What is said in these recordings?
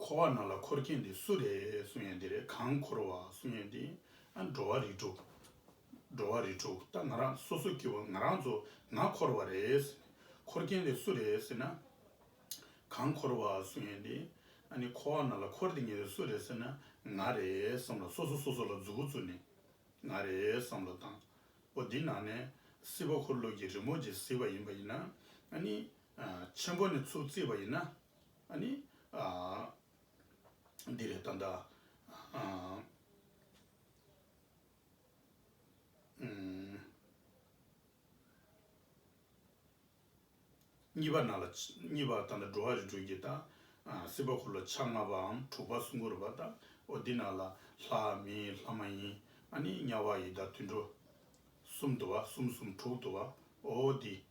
འཁོར་བ་རྣམས་ལ་འཁོར་མཁན་དེ་སུ་རེད་གསུང་ཡང་དེ་རེད་གང་འཁོར་བ་གསུང་ཡང་དེ་ཨ་འགྲོ་བ་རེད་དྲུག་འགྲོ་བ་རེད་དྲུག་ད་ང་རང་སོ་སོ་ཀྱི་བ་ང་རང་ཚོ་ང་འཁོར་བ་རེད་ཟེར་ནས་འཁོར་མཁན་དེ་སུ་རེད་ཟེར་ན་གང་འཁོར་བ་གསུང་ཡང་དེ་ཨ་ནི་འཁོར་བ་རྣམས་ལ་འཁོར་དེ་ངེས་དེ་སུ་རེད་ཟེར་ན་ང་རེད་བསམ་ལ་སོ་སོ་སོ་སོ་ལ་རྫུ་བུ་རྫུ་ནས་ང་རེད་བསམ་ལ་དང་པོ་འདི་ནང་ནས་སྲིད་པ་འཁོར་ལོ་ཀྱི་རི་མོ་རྗེ་གཟིགས་པ་ཡིན་པ་ཡིན་ན་ཨ་ནི་ཆེན་པོ་ནས་ཚུགས་བརྩིས་པ་ཡིན་ན། ནི། འདི་ལས་ད་ལྟ། གཉིས་པ་ན་ལ། གཉིས་པ་ད་ལྟ་འགྲོ་བ་རིགས་དྲུག་གི་ད། སྲིད་པ་འཁོར་ལོ་ཆ་ལྔ་པའམ་དྲུག་པ་སྲུང་འཁོར་བ་ད། འོ་འདི་ན་ལ། ལྷ་མིན་ལྷ་མ་ཡིན། ནི་དམྱལ་བ་ཡི་ད་དུད་འགྲོ། གསུམ་དུ་བ་གསུམ་གསུམ་དྲུག་དུ་བ། འོ་འོ་འདི།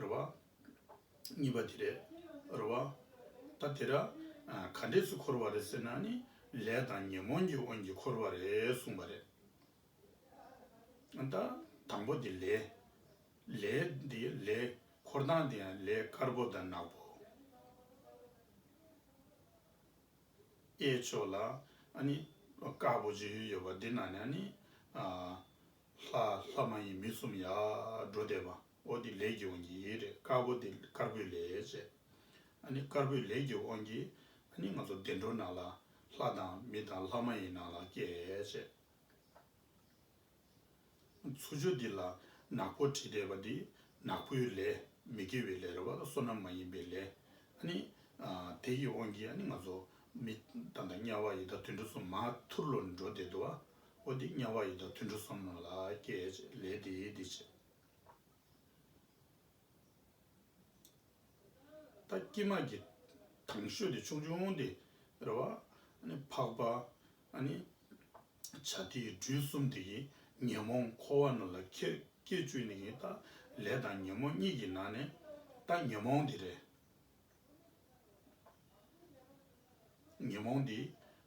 རེད་བ། གཉིས་པ་དེ་རེད། རེད་བ། ད་དེ་ར། ག་འདྲས་སུ་འཁོར་བ་རེད་ཟེར་ན་ནི། ལས་དང་ཉོན་མོངས་ཀྱི་དབང་གིས་འཁོར་བ་རེད་གསུངས་པ་རེད། ད། དང་པོ་དེ་ལས། ལས། དེ་ལས། འཁོར་དང་དེ་ཡང་ལས་དཀར་པོ་དང་ནག་པོ། གཡས་ཕྱོགས་ལ་ཨ་ནི། དཀར་པོ་བཅུ་ཡོད་པ་དེ་ནང་ནས་ནི། ལྷ། ལྷ་མ་ཡིན་མི་གསུམ་ཡར་འགྲོ་བསྡད་པ། ཨོ་འདི་ལས་ཀྱི་འོན་གྱི་ཡེ་རེད་དཀར་པོ་འདི་དཀར་པོའི་ལས་བྱེད་ཨ་ནི་དཀར་པོའི་ལས་ཀྱི་འོན་གྱི་ཨ་ནི་ང་ཚོ་བདེ་འགྲོ་ནང་ལ་ལྷ་དང་མི་དང་ལྷ་མ་ཡིན་ནང་ལ་སྐྱེ་བྱེད། མཚུར་ཆུ་འདི་ལ་ནག་པོ་བྲིས་བསྡད་པ་འདི་ནག་པོའི་ལས་མི་དགེ་བའི་ལས་རེད་བ་ལ་བསོད་ནམས་མ་ཡིན་པའི་ལས་ཨ་ནི་དེ་ཡི་འོན་གྱི་ཨ་ནི་ང་ཚོ་མི་དང་དང་དམྱལ་བ་ཡི་དྭགས་དུད་འགྲོ་གསུམ་མ་ཐུར་ལོ་འགྲོ་བསྡད་འདུག་ཨོ་འདི་དམྱལ་བ་ཡི་དྭགས་དུད་འགྲོ་གསུམ་ནང་ལ་སྐྱེ་བྱེད་ལས་འདི་འདི་བྱེད། ད་སྐྱེས་མ་གྱི་དང་ཤོས་དེ་ཆུང་ཆུང་དེ་རེད་བ། འཕགས་པ། བྱ་དེའི་འབྲུ་གསུམ་དེ་ཡི་ཉོན་མོངས་འཁོར་བ་རྣམས་ལ་ཁྱེད་སྐྱེས་བཅུ་ནི་ཡིན་ད་ལས་དང་ཉོན་མོངས་གཉིས་ཀྱི་ནང་ནས་ད་ཉོན་མོངས་དེ་རེད། ཉོན་མོངས་དེ་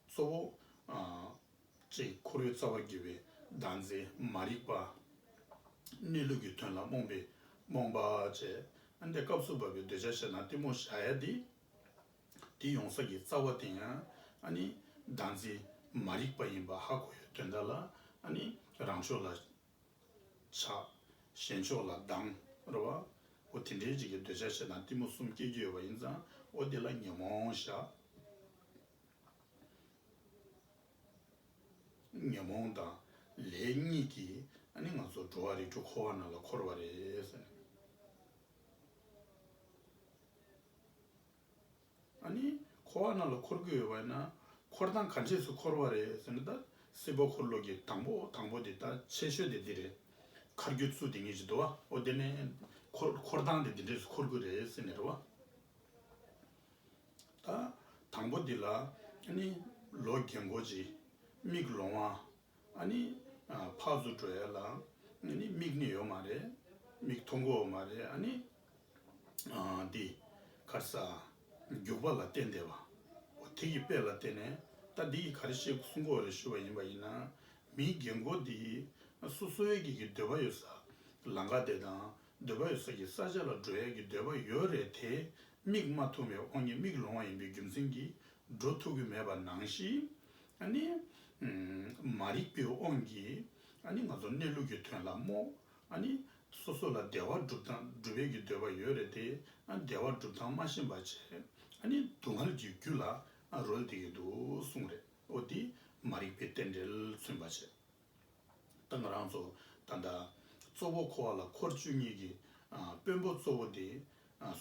གཙོ་བོ། ཅེས་འཁོར་བའི་རྩ་བ་དགེ་བའི་ལྡང་ཚེ་མ་རིག་པ། གནས་ལུགས་ཀྱི་དོན་ལ་རྨོངས་པའི་རྨོངས་པ་བཅས་ཨ་འདས་སྐབས་སུ་བབས་པའི་འདོད་ཆགས་ཤེས་ན་གཏི་མུག་བཤགས་ཡ་འདི། འདི་ཡོང་ས་ཀྱི་རྩ་བ་དེ་ཡང་ཨ་ནི་ལྡང་ཚེ་མ་རིག་པ་ཡིན་པ་ཧ་གོ་ཡོད་དོན་དག་ལ་ཨ་ནི་རང་ཕྱོགས་ལ་ཆགས། གཞན་ཕྱོགས་ལ་ལྡང་རོ་བ། འོ་དེ་འདྲའི་རྗེས་ཀྱི་འདོད་ཆགས་ཤེས་ན་གཏི་མུག་གསུམ་སྐྱེ་རྒྱུ་ཡོད་པ་ཡིན་ཙང་འོ་དེ་ལ་ཉོན་མོངས་བཤགས། ཉོན་མོངས་དང་ལས་གཉིས་ཀྱིས་ཨ་ནི་ང་ཚོ་འགྲོ་བ་རིགས་དྲུག་འཁོར་བ་རྣམས་ལ་འཁོར་བ་རེད། ཨ་ནི་འཁོར་བ་རྣམས་ལ་འཁོར་གྱི་ཡོད་པ་ཡིན་ན་འཁོར་སྟངས་ག་འདྲས་སུ་འཁོར་བ་རེད་ཟེར་ན་ད་སྲིད་པ་འཁོར་ལོ་གྱི་དང་པོ་དང་པོ་དེ་ད་ཆེ་ཤོས་དེ་འདི་རེད། མཁར་རྒྱུ་ཚུལ་དེ་ངེད་ཅིག་འདུག་ཨ་ཨོ་དེ་ནས་འཁོར་སྟངས་དེ་འདི་འདྲས་སུ་འཁོར་གྱི་རེད་ཟེར་ནས་རེད་བ། དང་པོ་འདི་ལ་ནི་ལོ་རྒན་མགོ་ལྕི་མིག་ལོང་བ་ནི་ཕག་གཟུགས་བྲོ་ཡལ་ལ་ནི་མིག་ནི་ཡོད་མ་རེད་མིག་མཐོ་མགོ་བོ་མ་རེད་ནི་འདི་གར་ས་རྒྱུག་པ་ལ་བརྟེན་བསྡད་པ་འོ་དེ་གི་དཔེ་ལ་བརྟེན་ནས་ད་འདི་གི་ག་རེ་ཤེས་གསུང་གོ་རེ་ཞུ་བ་ཡིན་པ་ཡིན་ན་མིའི་རྒན་མགོ་འདི་སོ་སོའི་གི་གི་འདོད་པ་ཡོད་ས་ལ་འགའ་བསྡད་དང་འདོད་པ་ཡོད་སར་གྱི་ས་ཆ་ལ་འགྲོ་ཡག་གི་འདོད་པ་ཡོད་རེད་དེ་མིག་སྨྲ་ཐུང་བའི་ཨོ་ཉི་མིག་ལོང་བ་ཡིན་པའི་རྒྱུ་མཚན་གྱིས་འགྲོ་ཐུབ་གི་མེད་པ་ནང་བཞིན་ནི། མ་རིག་པའི་དབང་གིས་ནི་ང་ཚོ་གནས་ལུགས་ཀྱི་དོན་ལ་རྨོངས། སོ་སོ་ལ་བདེ་བ་སྒྲུབ་སྟངས་སྒྲུབ་ཡག་གི་འདོད་པ་ཡོད་རེད་དེ་བདེ་བ་སྒྲུབ་སྟངས་སྨྲ་ཞེན་པ་བྱས་ནི་སྡུག་བསྔལ་གྱི་རྒྱུ་ལ་རོལ་བསྡད་ཀྱི་འདུག་གསུངས་རེད་ཨོ་འདི་མ་རིག་པའི་རྟེན་འབྲེལ་མཚོན་པ་བྱས། དང་རང་གཙོ་དང་འདྲ། གཙོ་བོ་འཁོར་བ་ལ་འཁོར་བཅུ་གཉིས་ཀྱི་དཔོན་པོ་གཙོ་བོ་དེ་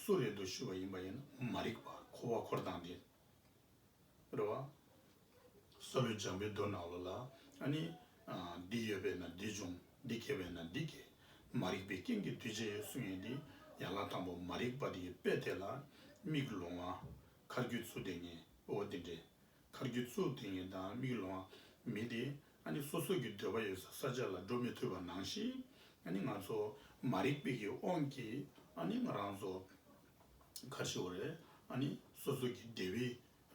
སུ་རེད་དོ་ཞུས་པ་ཡིན་པ་ཡིན་ན་མ་རིག་པ་འཁོར་བ་འཁོར་སྟངས་དེ་རེད་བ། ས་ལུས་སྦྱངས་པའི་རྡོ་ནག་ལོ་ལ་ཨ་ནི། འདི་ཡོད་པས་ན་འདི་འབྱུང་འདི་སྐྱེ་བས་ན་འདི་སྐྱེ། མ་རིག་པའི་རྐྱེན་གྱིས་འདུས་བྱས་ཡོད་གསུངས་ཡོད་དེ། ཡན་ལག་དང་པོ་མ་རིག་པ་དེའི་དཔེ་དེ་ལ་དམིགས་ལོང་བ། མཁར་རྒྱུད་ཚུལ་དེ་ངས་ཨོ་དེ་འདྲའི་མཁར་གྱི་གཙུག་དེ་ཉིད་དང་མིག་ལོང་བ་མིན་ཏེ། ཨ་ནི་སོ་སོ་གི་འདོད་པ་ཡོད་སར་ས་ཆ་ལ་འགྲོ་མི་ཐུབ་པ་ནང་བཞིན། ཨ་ནི་ང་ཚོ་མ་རིག་པས་ཀྱི་དབང་གིས་ཨ་ནི་ང་རང་ཚོ་མཁར་ཞིག་བར་ཨ་ནི་སོ་སོ་གི་བདེ་བའི་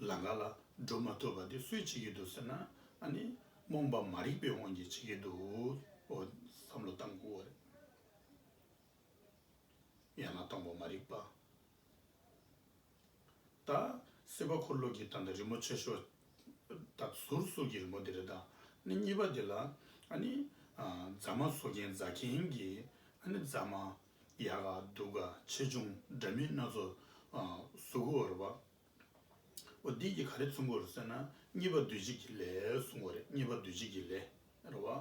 ལང་ཀ་ལ་འགྲོ་མ་ཐུབ་པ་དེ་སུས་བྱེད་ཀྱི་འདུག་ཟེར་ན་ཨ་ནི་རྨོངས་པ་མ་རིག་པའི་དབང་གིས་བྱེད་ཀྱི་འདུག་འོ་བསམ་བློ་བཏང་གོ། ཡང་ན་སྟོང་པ་མ་རིག་པ། ད། སྲིད་པ་འཁོར་ལོ་གྱི་ད་ནི་རི་མོ་ཆེ་ཤོས། ད་ཟུར་ཟུར་གྱི་རི་མོ་དེ་རེད་ད། ནི་གཉིས་པ་དེ་ལ། ཨ་ནི། རྫ་མ་བཟོ་མཁན་རྫ་མཁན་གྱི། ཨ་ནི་རྫ་མ། ཡག་ག་སྡུག་ག་ཆེ་ཆུང་འདྲ་མིན་སྣ་ཚོགས། གཟུགས་གོ་ར་བ། འོ་འདི་ཀྱི་ག་རེ་མཚུངས་གོ་རེ་ཟེར་ན། གཉིས་པ་འདུལ་བྱེད་ཀྱི་ལས་གསུངས་བ་རེད་གཉིས་པ་འདུལ་བྱེད་ཀྱི་ལས། རེད་བ།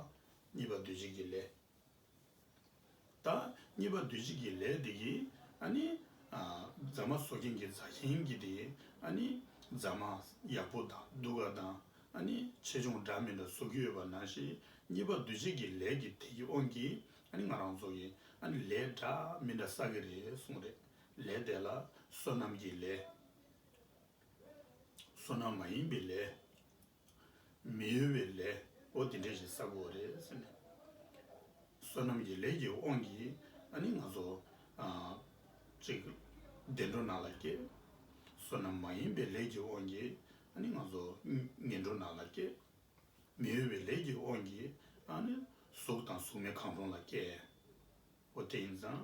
གཉིས་པ་འདུལ་བྱེད་ཀྱི་ལས། དང། གཉིས་པ་འདུལ་བྱེད་ཀྱི་ལས་དེ་ཡིས། རྫ་མ་བཟོ་མཁན་གྱིས་རྫ་མཁན་གྱིས་ཏེ། རྫ་མ་ཡག་པོ་དང་སྡུག་ག་དང། ཆེ་ཆུང་འདྲ་མིན་ལ་བཟོ་རྒྱུ་ཡོད་པ་ན་ཞིག་གཉིས་པ་འདུལ་བྱེད་ཀྱི་ལས་ཀྱི་དེ་ཀྱི་དབང་གིས་ང་རང་བཟོ་གི། ལས་འདྲ་མི་འདྲ་བསགས་ཀྱི་རེད་གསུངས་རེད། ལས་དེ་ལ་བསོད་ནམས་ཀྱི་ལས། བསོད་ནམས་མ་ཡིན་པའི་ལས། མི་གཡོ་བའི་ལས་ཨོ་དེ་འདྲས་ཞིག་བསགས་དགོས་རེད་ཟེར་ནས། བསོད་ནམས་ཀྱི་ལས་ཀྱི་དབང་གིས་ཨ་ནི་ང་ཚོ་གཅིག་བདེ་འགྲོ་ན་ལ་སྐྱེས། བསོད་ནམས་མ་ཡིན་པའི་ལས་ཀྱི་དབང་གིས་ཨ་ནི་ང་ཚོ་ངན་འགྲོ་ན་ལ་སྐྱེས། མི་གཡོ་བའི་ལས་ཀྱི་དབང་གིས་ཨ་ནི་གཟུགས་དང་གཟུགས་མེད་གང་རུང་ལ་སྐྱེས། ཨོ་དེ་ཡིན་ཙང།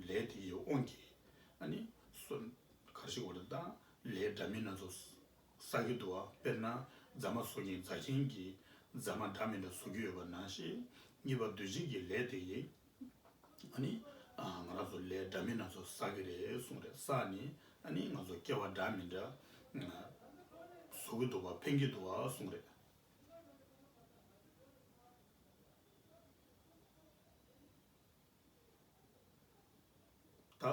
ལས་དེ་ཡི་དབང་གིས་ཨ་ནི་སོ། གར་ཞིག་འོ་རེ་ད་ལས་འདྲ་མིན་སྣ་ཚོགས། ས་ཁྱི་འདུག་ཨ་དཔེར་ན་རྫ་མ་བཟོ་གིན་རྫ་ཆེན་གྱིས་རྫ་མ་འདྲ་མི་འདྲ་བཟོ་རྒྱུ་ཡོད་པ་ནང་བཞིན་གཉིས་པ་འདུལ་བྱེད་ཀྱི་ལས་དེ་ཡིན། ཨ་ནི། ང་རང་ཚོ་ལས་འདྲ་མིན་སྣ་ཚོགས་བསགས་ཀྱི་རེད་གསུངས་རེད་ས་ཨ་ནི། ཨ་ནི་ང་ཚོ་སྐྱེ་བ་འདྲ་མི་འདྲ་བཟོ་གི་འདུག་བ་འཕེན་གྱི་འདུག་གསུངས་རེད། ད་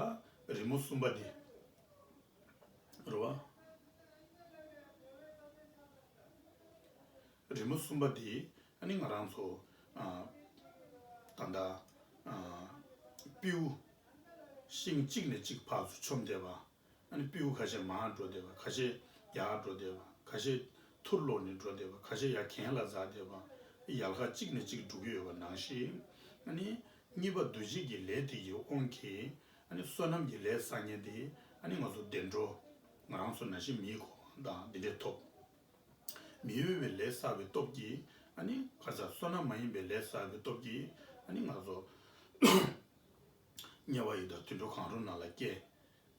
རི་མོ་གསུམ་པ་འདི། རེད་བ། རི་མོ་གསུམ་པ་འདི་ཨ་ནི་ང་རང་ཚོ། ད་ལྟ། པིའུ། ཤིང་གཅིག་ནས་གཅིག་བར་དུ་ཆོམ་བསྡད་པ། ཨ་ནི་པིའུ་ཁ་ཤས་མར་འགྲོ་བསྡད་པ་ཁ་ཤས་ཡར་འགྲོ་བསྡད་པ་ཁ་ཤས་ཐུར་ལོག་ནས་འགྲོ་བསྡད་པ་ཁ་ཤས་ཡ་གན་ལ་འཛག་བསྡད་པ་ཡལ་ཁ་གཅིག་ནས་གཅིག་འགྲོ་གི་ཡོད་པ་ནང་ཞིག་ཨ་ནི། གཉིས་པ་འདུ་བྱེད་ཀྱི་ལས་དེ་ཡིས་དབང་གིས་ཨ་ནི་བསོད་ནམས་ཀྱི་ལས་བསགས་ཉེན་ཏེ་ཨ་ནི་ང་ཚོ་བདེ་འགྲོ། ང་རང་ཚོ་ན་ཞིག་མིའི་གོ་འཕང་དང་འདི་འདྲས་ཐོབ། མི་འོས་པའི་ལས་བསགས་པའི་སྟོབས་ཀྱིས་ཨ་ནི་ཁ་ཆག་བསོད་ནམས་མ་ཡིན་པའི་ལས་བསགས་པའི་སྟོབས་ཀྱིས་ཨ་ནི་ང་ཚོ། དམྱལ་བ་ཡི་དྭགས་དུད་འགྲོ་གང་རུང་རྣམས་ལ་སྐྱེ།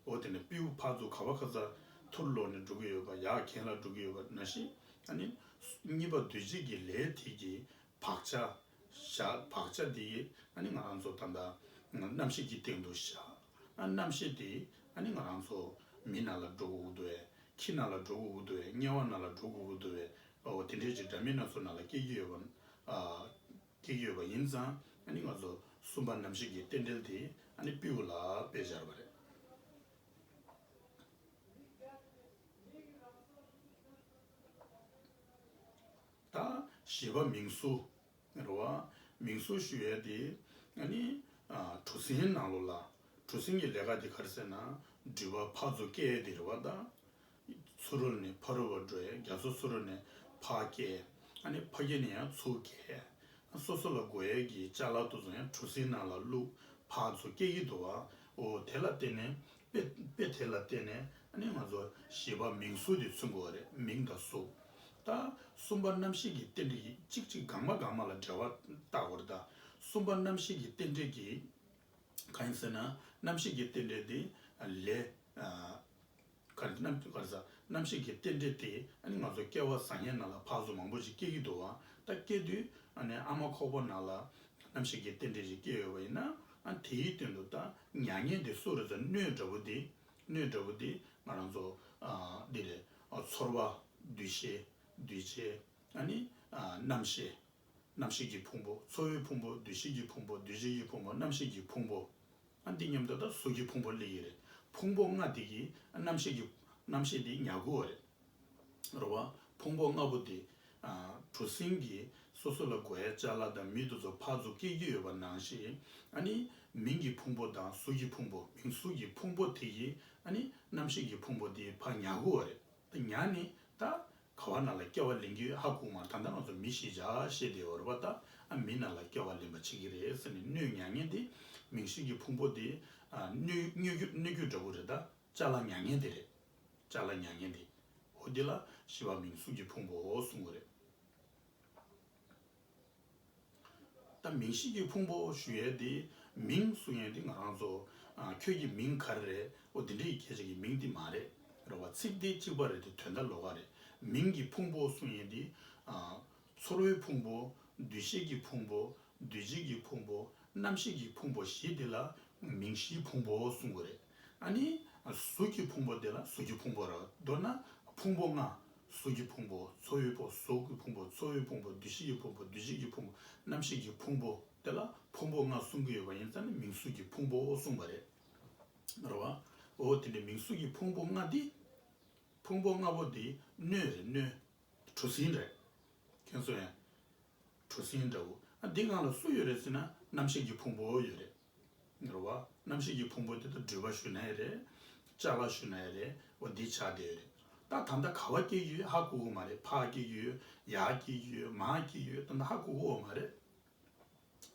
འོ་དེ་ནས་སྤེའུ་ཕག་གཙུག་ག་བ་ཁ་ཚར་ཐུར་ལོག་ནས་འགྲོ་གི་ཡོད་པ་ཡག་གན་ལ་འགྲོ་གི་ཡོད་པ་ན་ཤི་ཨ་ནི། གཉིས་པ་འདུལ་བྱེད་ཀྱི་ལས་དེ་ཀྱི་བག་ཆགས་བཞག་བག་ཆགས་དེ་ཡིས་ཨ་ནི་ང་རང་ཚོ་ད་ལྟ་རྣམ་ཤེས་ཀྱི་སྟེང་དུ་བཞག་ཨ་རྣམ་ཤེས་དེ་ཨ་ནི་ང་རང་ཚོ་མི་ན་ལ་འགྲོ་གུ་གུ་འདུ་བས་ཁྱི་ན་ལ་འགྲོ་གུ་གུ་འདུ་བས་དམྱལ་བ་ན་ལ་འགྲོ་གུ་གུ་འདུ་བས་འོ་དེ་འདྲའི་ཅིག་སྒྲ་མི་སྣ་ཚོ་ན་ལ་སྐྱེ་གི་ཡོད་པ་ཨ། ཐིག་ཡོད་པ་ཡིན་ཙང་ཨ་ནི་ང་ཚོ་སུམ་པ་ནམ་ཞིག་གི་རྟེན་འབྲེལ་དེ་ཨ་ནི་པིའུ་ལགས་པས་སྦྱར་བ་རེད། ད་བཞི་པ་མིང་བསུ་རེད་བ། མིང་བསུ་ཞུ་ཡས་དེ་ཨ་ནི་གྲུ་གཟིངས་ནང་ལོ་ལ་གྲུ་གཟིངས་ཀྱི་ལས་ཀ་དེ་གར་ཟེར་ན་འགྲུལ་པ་ཕག་མཛོ་སྐད་དེ་རེད་བ་ད། ཚུ་རོལ་ནས་ཕ་རོལ་བར་འགྲོ་ཡང་རྒྱ་མཚོ་ཚུ་རོལ་ནས་ཕ་སྐྱེ། ཕ་སྐྱེས་ནས་ཡང་ཚུ་སྐྱེ། སོ་སོ་ལ་སྒོ་དབྱེ་གྱི་ལྕགས་ལག་ཏུ་བཟུང་ཡང་གྲུ་གཟིངས་ནང་ལ་བླུག་ཕ་ཚུ་སྐྱེ་ཡི་འདུག་བའོ། དེ་ལ་བརྟེན་ནས་དཔེ་དེ་ལ་བརྟེན་ནས་ང་ཚོ་བྱིས་པ་མིང་གཟུགས་དེ་མཚོན་དགོས་བ་རེད་མིང་དང་གཟུགས། ད་གསུམ་པ་རྣམ་ཤེས་ཀྱི་རྟེན་འབྲེལ་གྱིས་གཅིག་གཅིག་འགག་མ་འགག་མ་ལ་འབྲེལ་བ་བརྟག་དགོས་རེད་ད་གསུམ་པ་རྣམ་ཤེས་ཀྱི་རྟེན་འབྲེལ་གྱིས་གང་ཡིན་ཟེར་ན་རྣམ་ཤེས་ཀྱི་རྟེན་འབྲེལ་དེ་ལས། ག་རེ་རྣམ་དཔྱོད་ག་རེ་ཟ་རྣམ་ཤེས་ཀྱི་རྟེན་འབྲེལ་ཏེ་ཨ་ནི་ང་ཚོ་སྐལ་བ་བཟང་ངན་ན་ལ་ཕག་གཟུགས་མང་པོ་ཞིག་སྐྱེ་གི་འདུག་ད་སྐྱེ་དུས་ཨ་ནི་ཨ་མ་ཁོག་པ་ན་ལ་རྣམ་ཤེས་ཀྱི་རྟེན་འབྲེལ་ཞིག་སྐྱེ་ཡོད་པ་ཡིན་ན་ཨ་དེའི་སྟེང་དུ་ད་མྱ་ངན་དེ་སུ་རེད་ད་སྣོད་འདྲ་བོ་དེ་སྣོད་འདྲ་བོ་དེ་ང་རང་ཚོ་འདི་རེད་ཚོར་བ་འདུས་ཤེས་འདུས་བྱས་ཨ་ནི་རྣམ་ཤེས་རྣམ་ཤེས་ཀྱི་ཕུང་པོ་ཚོར་བའི་ཕུང་པོ་འདུས་ཤེས་ཀྱི་ཕུང་པོ་འདུས་བྱས་ཀྱི་ཕུང་པོ་རྣམ་ཤེས་ཀྱི་ཕུང་པོ། ཨ་འདི་སྙམ་ད་ལྟ་སོ་སྐྱེའི་ཕུང་པོ་གླེགས་ཡིག་རེད་ཕུང་པོ་ལྔ་དེ་གི་རྣམ་ཤེས་ཀྱི་རྣམ་ཤེས་དེ་ཉག་གུ་བ་རེད་རོ་བ་ཕུང་པོ་ལྔ་པོ་དེ་གྲུ་གཟིངས་ཀྱི་སོ་སོ་ལ་དགོས་ཡ་ལྕགས་ལ་དང་མི་དུ་ཚོ་ཕག་ཚོ་སྐྱེ་རྒྱུ་ཡོད་པ་ནང་ཤེས་ཨ་ནི་མིང་གི་ཕུང་པོ་དང་གཟུགས་ཀྱི་ཕུང་པོ་མིང་གཟུགས་ཀྱི་ཕུང་པོ་དེ་གི་ཨ་ནི་རྣམ་ཤེས་ཀྱི་ཕུང་པོ་དེ་ཕག་ཉག་གུ་བ་རེད་ད་ཉག་ནི་ད། ག་བ་ན་ལ་སྐྱ་བ་ལེན་རྒྱུ་ཧ་གོ་མར་ད་ལྟ་ང་ཚོ་མི་ཤེས་བྱ་ཤེས་དེ་འོར་བ་ད་ཨ་མི་ན་ལ་སྐྱ་བ་ལེན་པ་བྱེད་ཀྱི་རེད་ཟེར་ནས་སྣོད་མྱ་ངན་དེ་མིང་ཧྲིལ་གྱི་ཕུང་པོ་དེ་སྣོད་རྒྱུ་འདྲ་པོ་རེད་ད་ལྕགས་ལ་མྱ་ངན་དེ་རེད་ལྕགས་ལ་མྱ་ངན་དེ་འོ་དེ་ལ་ཤི་བ་མིང་གཟུགས་ཀྱི་ཕུང་པོ་གསུང་གོ་རེད། ད་མིང་གཤིས་ཀྱི་ཕུང་པོ་ཞུ་ཡས་ཏེ་མིང་གསུང་ཡས་ཏེ་ང་རང་ཚོ། ཁྱོད་ཀྱི་མིང་ག་རེ་རེད་འོ་དེ་འདྲ་ཡི་གེ་གཅིག་གི་མིང་དེ་མ་རེད་རེད་བ་ཚིག་དེ་གཅིག་པ་རེད་དེ་དོན་དག་ལོ་ག་རེད་མིང་གི་ཕུང་པོ་གསུང་ཡས་ཏེ། ཚོར་བའི་ཕུང་པོ་འདུས་བྱས་ཀྱི་ཕུང་པོ་འདུས་བྱས་ཀྱི་ཕུང་པོ་རྣམ་ཤེས་ཀྱི་ཕུང་པོ་བཞི་དེ་ལ་མིང་གཤིས་ཕུང་པོ་གསུང་གི་རེད། ཨ་ནི། གཟུགས་ཀྱི་ཕུང་པོ་འདི་ལ་གཟུགས་ཀྱི་ཕུང་པོ་རོ། མདོར་ན། ཕུང་པོ་ལྔ། གཟུགས་ཀྱི་ཕུང་པོ། ཚོར་བའི་ཕོ། གཟུགས་ཀྱི་ཕུང་པོ། ཚོར་བའི་ཕུང་པོ། འདུ་ཤེས་ཀྱི་ཕུང་པོ། འདུ་བྱེད་ཀྱི་ཕུང་པོ། རྣམ་ཤེས་ཀྱི་ཕུང་པོ། དེ་ལ་ཕུང་པོ་ལྔ་གསུང་གི་ཡོད་པ་ཡིན་ཙང་ནི་མིང་གཟུགས་ཀྱི་ཕུང་པོའོ་གསུངས་པ་རེད། རེད་བ། འོ་དེ་ནི་མིང་གཟུགས་ཀྱི་ཕུང་པོ་ལྔ་འདི། ཕུང་པོ་ལྔ་པོ་འདི་སྣོད་རེད་སྣོད། གྲུ་གཟིངས་རེད། ཁྱོད་གསུངས་ཡ། གྲུ་གཟིངས་འདྲ་བོ། འདི་སྔགས་ལ་སུ་ཡོད་རེད་ཟེར་ན་རྣམ་ཤེས་ཀྱི་ཕུང་པོའོ་ཡོད་རེད། འགྲོ་བ་རྣམ་ཤེས་ཀྱི་ཕུང་པོ་དེ་དང་སྦྲུལ་པ་ཞུ་ན་ཡི་རེད། ལྕགས་ལ་ཞུ་ན་ཡི་རེད་འོ་འདི་ཆགས་བསྡད་ཡོད་རེད་ད་ད་ལྟ་ག་བ་སྐྱེས་ཀྱི་ཡོད་ཧ་གོ་གོ་མ་རེད་ཕག་སྐྱེས་ཀྱི་ཡོད་ཡག་སྐྱེས་ཀྱི་ཡོད་མ་སྐྱེས་ཀྱི་ཡོད་ད་ད་ཧ་གོ་གོ་འོ་མ་རེད།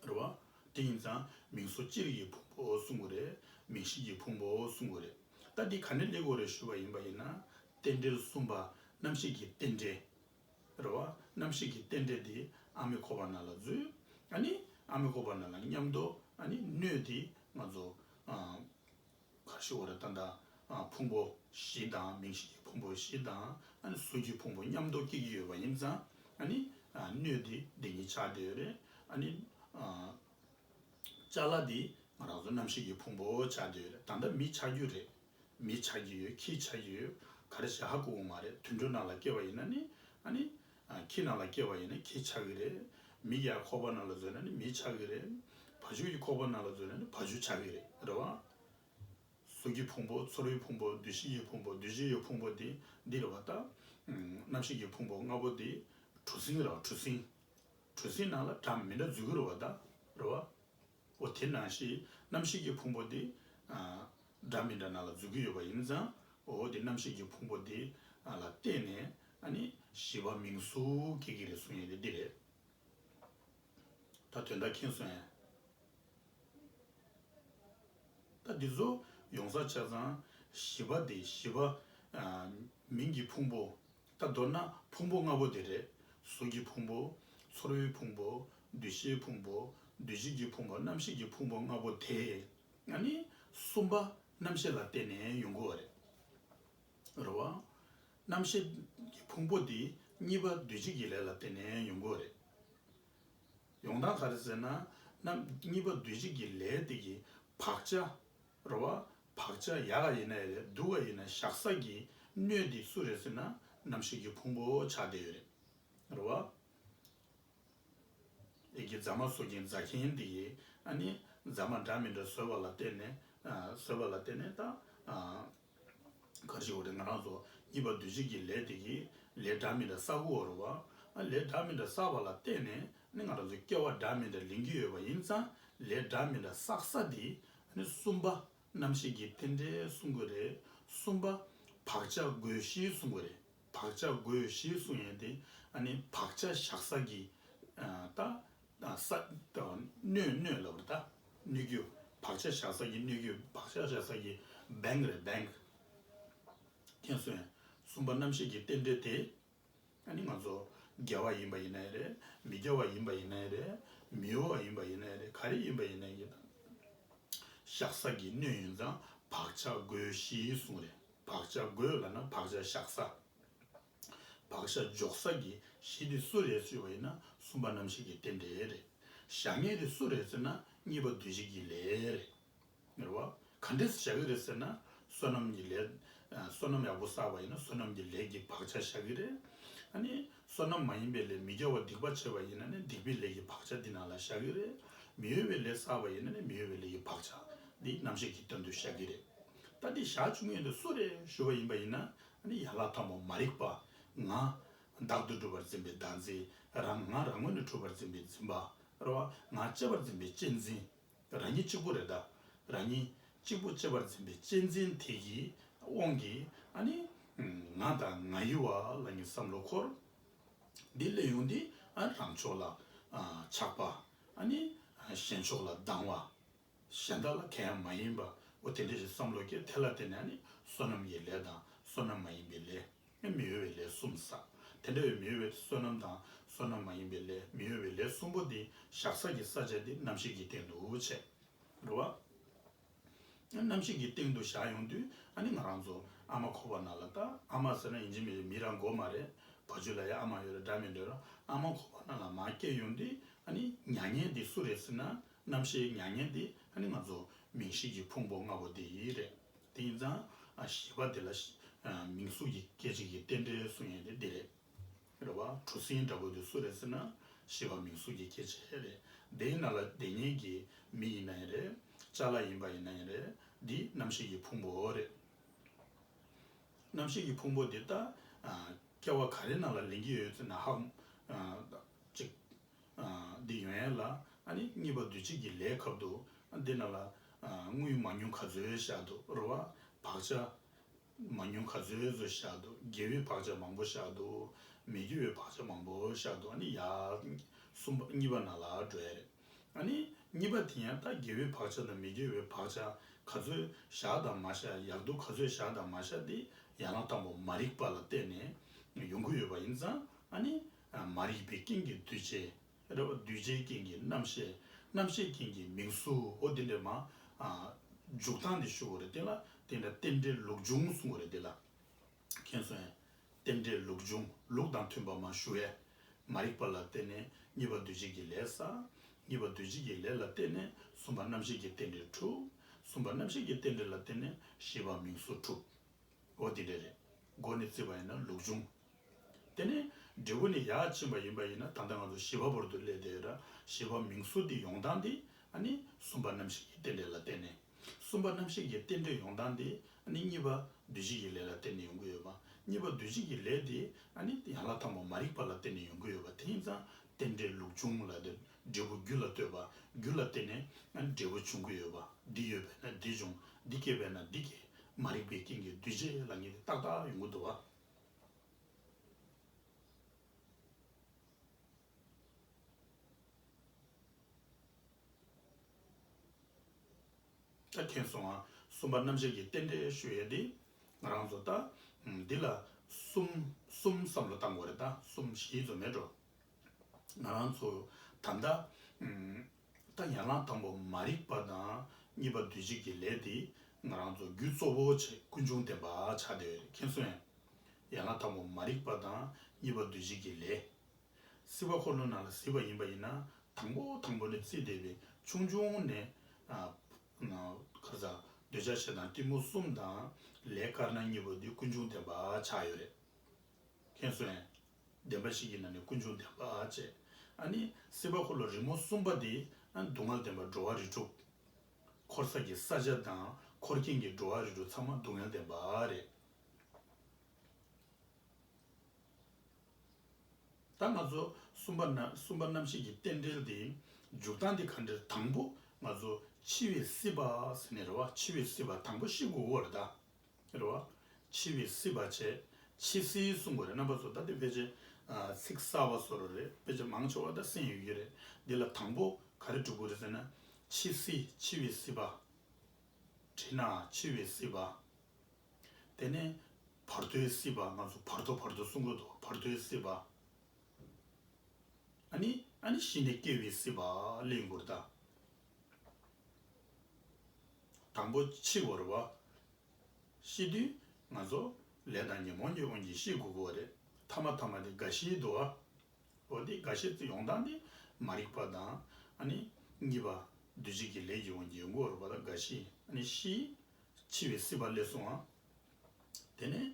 འགྲོ་བ། དེ་ཡིན་ཙང་མིང་སོ་ཅི་རིགས་ཀྱི་ཕུང་པོ་འོ་གསུང་གི་རེད་མིང་ཤེས་ཀྱི་ཕུང་པོ་འོ་གསུང་གི་རེད་ད་འདི་ག་ནས་སླེབས་གོ་རེད་ཞུ་བ་ཡིན་པ་ཡིན་ན། རྟེན་འབྲེལ་གསུམ་པ་རྣམ་ཤེས་ཀྱི་རྟེན་འབྲེལ། རེ་བ། རྣམ་ཤེས་ཀྱི་རྟེན་འབྲེལ་འདི། ཨ་མི་ཁོ་པ་ན་ལ་རྫུས། ཨ་ནི། ཨ་མི་ཁོ་པ་ན་ལ་ཉམས་དོ། ཨ་ནི། སྣོད་འདི། ང་ཚོ། གར་ཤི་ཨོ་ར་ཏཱན་དང། ཕུང་པོ། བཞི་དང། མིང་གཞི་གྱི་ཕུང་པོ་བཞི་དང། ཨ་ནི། གཟུགས་ཀྱི་ཕུང་པོ་མཉམ་དུ་སྐྱེ་གི་ཡོད་པ་ཡིན་ཙང། ཨ་ནི། སྣོད་འདི། འདི་ཉིད་ཆགས་བསྡད་ཡོད་རེད། ཨ་ནི། ལྕགས་ལ་འདི། ང་རང་ཚོ་རྣམ་ཤེས་ཀྱི་ཕུང་པོ་ཆགས་བསྡད་ཡོད་རེད། ད་ལྟ་མི་ཆགས་རྒྱུ་རེད། མིས་བྱ་རྒྱུ་ཡོད་ཁྱིས་བྱ་རྒྱུ་ཡོད་ག་རེ་བྱ་ཧ་གོ་བོ་མ་རེད་དུད་འགྲོ་ནང་ལ་སྐྱེས་པ་ཡིན་ན་ནི་ཨ་ནི། ཁྱི་ནང་ལ་སྐྱེས་པ་ཡིན་ན་ཁྱི་བྱ་གི་རེད། མི་ཡར་ཁོག་པ་ནང་ལ་འཛུལ་ན་ནི་མི་བྱ་གི་རེད། བ་ཕྱུགས་ཀྱི་ཁོག་པ་ནང་ལ་འཛུལ་ན་ནི་བ་ཕྱུགས་བྱ་གི་རེད་རེད་བ། གཟུགས་ཀྱི་ཕུང་པོ་ཚོར་བའི་ཕུང་པོ་འདུ་ཤེས་ཀྱི་ཕུང་པོ་འདུ་བྱེད་ཡོད་ཕུང་པོ་དེ་འདི་རེད་བ་ལྟ། རྣམ་ཤེས་ཀྱི་ཕུང་པོ་ལྔ་པོ་དེ་གྲུ་གཟིངས་རེད་བ་གྲུ་གཟིངས། གྲུ་གཟིངས་ནང་ལ་དགྲ་མི་འདྲ་འཛུལ་གི་རེད་བ་ལྟ་རེད་བ། ཨོ་དེ་ན་ཞེས་རྣམ་ཤེས་ཀྱི་ཕུང་པོ་དེ། འདྲ་མི་འདྲ་ན་ལ་རྫུས་ཀྱི་ཡོད་པ་ཡིན་ཙང་ཨོ་དེ་རྣམ་ཤེས་ཀྱི་ཕུང་པོ་དེ་ལ་བརྟེན་ནས་ནི། བཞི་པ་མིང་གཟུགས་སྐྱེ་གི་རེད་གསུངས་ཡིན་དེ་འདི་རེད། ད་དོན་དག་མཁྱེན་སོང་ཡ། ད་འདི་ཚོ་ཡོང་ས་ཆ་ཚང་བཞི་པ་དེ་བཞི་པ། མིང་གི་ཕུང་པོ། ད་མདོར་ན་ཕུང་པོ་ལྔ་པོ་དེ་རེད། གཟུགས་ཀྱི་ཕུང་པོ། ཚོར་བའི་ཕུང་པོ། འདུ་ཤེས་ཕུང་པོ། འདུ་བྱེད་ཀྱི་ཕུང་པོ་རྣམ་ཤེས་ཀྱི་ཕུང་པོ་ལྔ་པོ་དེ། ཡང་ནི། གསུམ་པ། རྣམ་ཤེས་ལ་བརྟེན་ནས་ཡོང་གི་བ་རེད། རེད་བ། རྣམ་ཤེས། ཀྱི་ཕུང་པོ་དེ། གཉིས་པ་འདུ་བྱེད་ཀྱི་ལས་ལ་བརྟེན་ནས་ཡོང་གི་བ་རེད། ཡོང་སྟངས་ག་རེ་ཟེར་ན། རྣམ། གཉིས་པ་འདུ་བྱེད་ཀྱི་ལས་དེ་གི། བག་ཆགས། རོ་བ། བག་ཆགས་ཡག་ག་ཡིན་ན་ཡག་རེད་སྡུག་ག་ཡིན་ན་ཤག་ས་ཀྱི་སྣོད་འདི་སུ་རེད་ཟེར་ན་ནམ་ཞིག་གི་ཕུང་པོ་ཆགས་བསྡད་ཡོད་རེད། རོ་བ། ཡི་གེ་རྫ་མ་བཟོ་མཁན་རྫ་མཁན་འདི་ཡིས་ཨ་ནི་རྫ་མ་འདྲ་མི་འདྲ་བཟོས་པ་ལ་བལྟས་ནས་བཟོས་པ་ལ་བལྟས་ནས་ད། གར་ཞིག་འོ་རེ་ང་རང་ཚོ་གཉིས་པ་འདུས་བྱས་ཀྱི་ལས་དེ་ཀྱི་ལས་འདྲ་མིན་འདྲ་བསགས་དགོས་བ་རུ་བ། ལས་འདྲ་མིན་འདྲ་བསགས་པ་ལ་བརྟེན་ནས་ནི་ང་རང་ཚོ་སྐྱེ་བ་འདྲ་མིན་འདྲ་ལེན་གྱི་ཡོད་པ་ཡིན་ཙང་ལས་འདྲ་མིན་འདྲ་བསགས་ས་དེ་ནི་གསུམ་པ། རྣམ་ཤེས་ཀྱི་རྟེན་འབྲེལ་གསུང་གི་རེད། གསུམ་པ། བག་ཆགས་བགོད་གཞིའི་གསུང་གི་རེད། བག་ཆགས་བགོད་གཞིའི་གསུང་ཡིན་ཏེ། ནི་བག་ཆགས་བཞག་ས་ཀྱི། རྟགས། དང་ས། སྣོད་སྣོད་ལ་བར་ཐག་སྣོད་རྒྱུ། བག་ཆགས་བཞག་ས་ཀྱི་སྣོད་རྒྱུ་བག་ཆགས་བཞག་ས་ཀྱི Bank རེད Bank། མཁྱེན་གསུམ་ཡིན། གསུམ་པ་རྣམ་ཤེས་ཀྱི་རྟེན་འབྲེལ་དེ། ཨ་ནི་ང་ཚོ་རྒྱལ་བ་ཡིན་པ་ཡིན་ན་ཡང་རེད་མི་རྒྱལ་བ་ཡིན་པ་ཡིན་ན་ཡང་རེད་མི་འོས་བ་ཡིན་པ་ཡིན་ན་ཡང་རེད་ག་རེ་ཡིན་པ་ཡིན་ན་ཡང་རེད། བཞག་ས་ཀྱི་སྣོད་ཡིན་ཙང་བག་ཆགས་སྒོའི་གཞིའི་གཟུངས་རེད་བག་ཆགས་སྒོས་ལ་ན་བག་ཆགས་བཞག་ས། བག་ཞྭ་འཇོག་ས་ཀྱི་གཞི་དེ་སུ་རེད་ཚོད་བ་ཡིན་ན་གསུམ་པ་རྣམ་ཤེས་ཀྱི་རྟེན་འབྲེལ་རེད། བཞག་ངེས་དེ་སུ་རེད་ཟེར་ན་གཉིས་པ་འདུལ་བྱེད་ཀྱི་ལས་རེད། ངེར་བ། ག་འདྲས་བཞག་གི་རེད་ཟེར་ན་བསོད་ནམས་ཀྱི་ལས། བསོད་ནམས་ཡག་པོ་བསགས་པ་ཡིན་ན་བསོད་ནམས་ཀྱི་ལས་ཀྱི་བག་ཆགས་བཞག་གི་རེད། ཨ་ནི། བསོད་ནམས་མ་ཡིན་པའི་ལས་མི་དགེ་བ་སྡིག་པ་བྱས་པ་ཡིན་ན་ནི་སྡིག་པའི་ལས་ཀྱི་བག་ཆགས་འདི་ནང་ལ་བཞག་གི་རེད། མི་གཡོ་བའི་ལས་བསགས་པ་ཡིན་ན་ནི་མི་གཡོ་བའི་ལས་ཀྱི་བག་ཆགས་འདི་རྣམ་ཤེས་ཀྱི་དོན་དུ་བཞག་གི་རེད། ད་འདི་བཞག་བཅུག་ངེས་དེ་སུ་རེད་ཞུ་བ་ཡིན་པ་ཡིན་ན་ཡན་ལག་དང་པོ་མ་རིག་པ་ང། བདག་ཏུ་གྲུབ་པར་འཛིན་པའི་བདག་འཛིན། རང་ང་རང་ངོ་ནས་འཁྲུལ་པར་འཛིན་པའི་འཛིན་པ། རོ། ང་གཅེས་པར་འཛིན་པའི་གཅེས་འཛིན། རང་ཉིད་གཅིག་པུ་རེ་ད། རང་ཉིད། གཅིག་པུ་གཅེས་པར་འཛིན་པའི་གཅེས་འཛིན་དེ་ཡི། དབང་གིས། ང་དང་ང་ཡི་བ་ལ་ངའི་བསམ་བློ་འཁོར། འདི་གླེང་ཡོང་འདི། རང་ཕྱོགས་ལ། ཆགས་པ། གཞན་ཕྱོགས་ལ་སྡང་བ། གཞན་དག་ལ་ཁྱད་མ་ཡིན་པའོ། དེ་འདྲའི་ཞེས་བསམ་བློ་སྐྱེ་དེ་ལ་བརྟེན་ནས་ནི་བསོད་ནམས་ཀྱི་ལས་དང་བསོད་ནམས་མ་ཡིན་པའི་ལས། མི་གཡོ་བའི་ལས་གསུམ་བསགས། དེ་འདྲ་བའི་མི་གཡོ་བའི་བསོད་ནམས་དང་བསོད་ནམས་མ་ཡིན་པའི་ལས་མི་གཡོ་བའི་ལས་གསུམ་པོ་འདི་བཤགས་བསགས་ཀྱི་ས་བཅད་འདི་རྣམ་ཤེས་ཀྱི་སྟེང་དུ་བྱས། འགྲོ་བ་རྣམ་ཤེས་ཀྱི་སྟེང་དུ་བཞག་ཡོང་དུས་ཨ་ནི་ང་རང་ཚོ་ཨ་མ་ཁོ་བ་ན་ལ་ལྟ་ཨ་མ་ཟེར་ན་ཡིན་གཅིག་མི་རེད་མི་རང་མགོ་མ་རེད་བ་ཆུ་ལ་ཡ་ཨ་མ་ཡོད་རེད་སྒྲ་མི་འདོན་ར་ཨ་མ་ཁོ་བ་ན་ལ་མ་སྐྱེས་ཡོང་དུས་ཨ་ནི་མྱ་ངན་འདི་སུ་རེད་ཟེར་ན། རྣམ་ཤེས་མྱ་ངན་འདི་ནི་ང་ཚོ་མིང་གཞི་ཀྱི་ཕུང་པོ་ལྔ་པོ་འདི་ཡིས་རེད་དེ་ཡིན་ཙང་གཞི་པ་འདི་ལ་མིང་གཟུགས་ཀྱི་སྐད་ཅིག་གི་རྟེན་འབྲེལ་སུ་ཡིན་དེ་འདི་རེད་རེད་བ་གྲུ་གཟིངས་འདྲ་བོ་འདི་སུ་རེད་ཟེར་ན་གཞི་པ་མིང་གཟུགས་ཀྱི་སྐད་ཅིག་རེད་དེ་ཡིན་ན་ལ་དེ་གཉིས་ཀྱི་མི་ཡིན་ན་ཡིན་རེད་ལྕགས་ལ་ཡིན་པ་ཡིན་ན་ཡིན་རེད་འདི་རྣམ་ཤེས་ཀྱི་ཕུང་པོ་རེད། རྣམ་ཤེས་ཀྱི་ཕུང་པོ་འདི་ལྟ་སྐྱེ་བ་ག་རེ་ན་ལ་ལེན་གྱི་ཡོད་ཟེར་ན་ཧཧཧ། འདི་ཡོན་ཡན་ལ། གཉིས་པ་བདུད་བྱེད་ཀྱི་ལས་ཁབ་ཏུ། འདི་རྣམས་ལ། དངུལ་མ་ཉུང་ག་ཚོད་བཞག་འདུག་རོ། བག་ཆགས་མ་ཉུང་ག་ཚོད་ཚོད་བཞག་འདུག་དགེ་བའི་བག་ཆགས་མང་པོ་བཞག་འདུག། མི་དགེ་བའི་བག་ཆགས་མང་པོ་བཞག་འདུག་ནི་ཡ། གསུམ་པ་གཉིས་པ་རྣམས་ལ་འགྲོ་ཡ་རེད། གཉིས་པ་དེ་ཡང་ལྟ་དགེ་བའི་བག་ཆགས་དང་མི་དགེ་བའི་བག་ཆགས་ག་ཚོད་བཞག་དང་མ་བཞག་ཡག་སྡུག་ག་ཚོད་བཞག་དང་མ་བཞག་འདི་ཡང་ལ་དང་པོ་མ་རིག་པ་ལ་བརྟེན་ནས་ཡོང་གི་ཡོད་པ་ཡིན་ཙང། མ་རིག་པའི་རྐྱེན་གྱིས་འདུས་བྱས་རེ་བ། འདུས་བྱས་རྐྱེན་གྱིས་རྣམ་ཤེས། རྣམ་ཤེས་རྐྱེན་གྱིས་མིང་གཟུའོ། འདི་འདྲའི་མ། འཇུག་སྟངས་འདི་ཞུ་བ་རེ་བསྟན་ལ། དེ་འདྲ་རྟེན་འབྲེལ་ལུགས་འབྱུང་གསུང་བ་རེ་བསྟན་ལ། མཁྱེན་སོན། རྟེན་འབྲེལ་ལུགས་འབྱུང་ལུགས་དང་མཐུན་པ་མ་ཞུ་བས། མ་རིག་པ་ལ་བརྟེན་ནས་གཉིས་པ་འདུས་བྱས་ཀྱི་ལས་ས། གཉིས་པ་འདུས་བྱས་ཀྱི་ལས་ལ་བརྟེན་ནས་གསུམ་པ་རྣམ་ཤེས་ཀྱི་རྟེན་འབྲེལ་དྲུག། གསུམ་པ་རྣམ་ཤེས་ཀྱི་རྟེན་འབྲེལ་ལ་བརྟེན་ནས་བཞི་པ་མིང་གཟུ་དྲུག། འོ་འདི་འདྲའི་རེ། སྒོ་ནས་བརྩི་བ་ཡིན་ན་ལུགས་འབྱུང། དེ་ནས་འབྲས་བུ་ནི་ཡར་ཕྱིན་པ་ཡིན་པ་ཡིན་ན་ད་ལྟ་ང་ཚོ་བཞི་བ་བོར་དུ་སླེབས་ཏེ་བཞི་བ་མིང་གཟུགས་འདི་ཡོང་སྟངས་འདི་ནི་གསུམ་པ་རྣམ་ཤེས་ཀྱི་རྟེན་འབྲེལ་ལ་བརྟེན་ནས་གསུམ་པ་རྣམ་ཤེས་ཀྱི་རྟེན་འབྲེལ་ཡོང་སྟངས་འདི་ནི་གཉིས་པ་འདུས་བྱས་ཀྱི་ལས་ལ་བརྟེན་ནས་ཡོང་གི་ཡོད་པ་གཉིས་པ་འདུས་བྱས་ཀྱི་ལས་དེ་ནི་ཡན་ལག་དང་པོ་མ་རིག་པ་ལ་བརྟེན་ནས་ཡོང་གི་ཡོད་པ་དེ་ཡིན་ཙང་རྟེན་འབྲེལ་ལུགས་འབྱུང་ལ་འབྲས་བུ་རྒྱུ་ལ་ལྟོས་པ་རྒྱུ་ལ་བརྟེན་ནས་འབྲས་བུ་འབྱུང་གི་ཡོད་པ་འདི་ཡོད་པས་ན་འདི་འབྱུང་འདི་སྐྱེས་པས་ན་འདི་སྐྱེ་མ་རིག་པའི་རྐྱེན་གྱིས་འདུས་བྱས་ལ་ངེས་ཏེ་ཏག་ཏག་ཡོང་གི་འདུག་བ། མཁྱེན་སོང་ང་གསུམ་པ་རྣམ་བཤད་ཀྱི་རྟེན་འབྲེལ་ཤོད་ཡས་འདི་ང་རང་ཚོ་ལྟ། འདི་ལ་གསུམ་གསུམ་བསམ་བློ་བཏང་དགོས་རེད་ད་གསུམ་བཞི་ཚོ་མེད་འགྲོ། ང་རང་ཚོ་ད་ལྟ། ད་ཡང་ན་དང་པོ་མ་རིག་པ་དང་གཉིས་པ་འདུས་བྱས་ཀྱི་ལས་དེ་ང་རང་ཚོ་རྒྱུ་གཙོ་བོ་ཆེ་ཀུན་འབྱུང་བདེན་པ་བྱ་འདོད་མཁན་སུ་ཡང་ཡང་ན་དང་པོ་མ་རིག་པ་དང་གཉིས་པ་འདུས་བྱས་ཀྱི་ལས། སྲིད་པ་འཁོར་ལོ་ནང་ལ་གཟིགས་པ་ཡིན་པ་ཡིན་ན་དང་པོ་དང་པོ་ནས་བརྩིས་བསྡད་པའི་ཆུང་ཆུང་ནས་ཁ་ཟ་འདོད་ཆགས་ཆེ་དང་གཏི་མུག་གསུམ་དང་ལས་དཀར་ན་གཉིས་པ་འདི་ཀུན་འབྱུང་བདེན་པ་ཆགས་ཡོད་རེད། མཁན་གསོལ། བདེན་པ་ཞིག་གི་ནང་ནས་སྐུ་འབྱུང་བདེན་པ་ཅེས། ཨ་ནི་སྲིད་པ་འཁོར་ལོ་རིང་མོ་གསུམ་པ་འདི། སྡུག་བསྔལ་ལྡན་པ་འགྲོ་བ་རིས་དྲུག། འཁོར་ས་ཀྱི་ས་ཆ་དང་འཁོར་སྐྱེངས་ཀྱི་འགྲོ་བ་རིས་དྲུག་ཚང་མ་སྡུག་བསྔལ་ལྡན་པ་རེད། ད་ང་ཚོ་གསུམ་པ་གསུམ་པ་རྣམ་ཤེས་ཀྱི་རྟེན་འབྲེལ་དེ་འཇུག་སྟངས་དེ་ག་འདྲེར་དང་པོ་ང་ཚོ་འཆི་བའི་སྲིད་པ་ཟེར་ནས་རེད་བ་འཆི་བའི་སྲིད་པ་དང་པོ་ཤི་དགོས་བོ་རེད་ད། ཟེར་བ། འཆི་བའི་སྲིད་པ་བྱས། འཆི་སྲིད་གསུང་པ་རེད་རྣམ་པ་ཚོ་ད་ལྟའི་ཕལ་ཆེར། ཚིག་གསར་བ་བཟོ་རོགས་རེད་ཕལ་ཆེར་མང་ཆེ་བ་ད་གསན་ཡོད་ཀྱི་རེད་འདི་ལ་དང་པོ་ག་རེ་བསྒྲུབ་དགོས་རེད་ཟེར་ན། འཆི་སྲིད་འཆི་བའི་སྲིད་པ། དྲིས་ན་འཆི་བའི་སྲིད་པ། དེ་ནས་བར་དོའི་སྲིད་པ་ང་ཚོ་བར་དོ་བར་དོ་གསུང་དགོས་འདུག་བར་དོའི་སྲིད་པ། ཨཱ་ནི་ཨཱ་ནི་ཤི་ནས་སྐྱེ་བའི་སྲིད་པ་ལས་འགུར་ད། དང་པོ་འཆི་བར་བ། ཤི་དུས་ང་ཚོ་ལས་དང་ཉོན་མོངས་ཀྱི་དབང་གིས་ཤི་དགོས་པོ་རེད་ཐ་མ་ཐ་མ་དེ་རྒ་ཤིའི་དུ་བ་བོ་དེ་རྒ་ཤི་ཡོང་སྟངས་དེ་མ་རིག་པ་དང་ཨ་ནི་གཉིས་པ་འདུ་བྱེད་ཀྱི་ལས་ཀྱི་དབང་གིས་ཡོང་གི་བར་བ་དང་རྒ་ཤི་ཨ་ནི་ཤི་འཆི་བའི་སྲིད་པ་སླེབས་སོང་ཨང། དེ་ནས་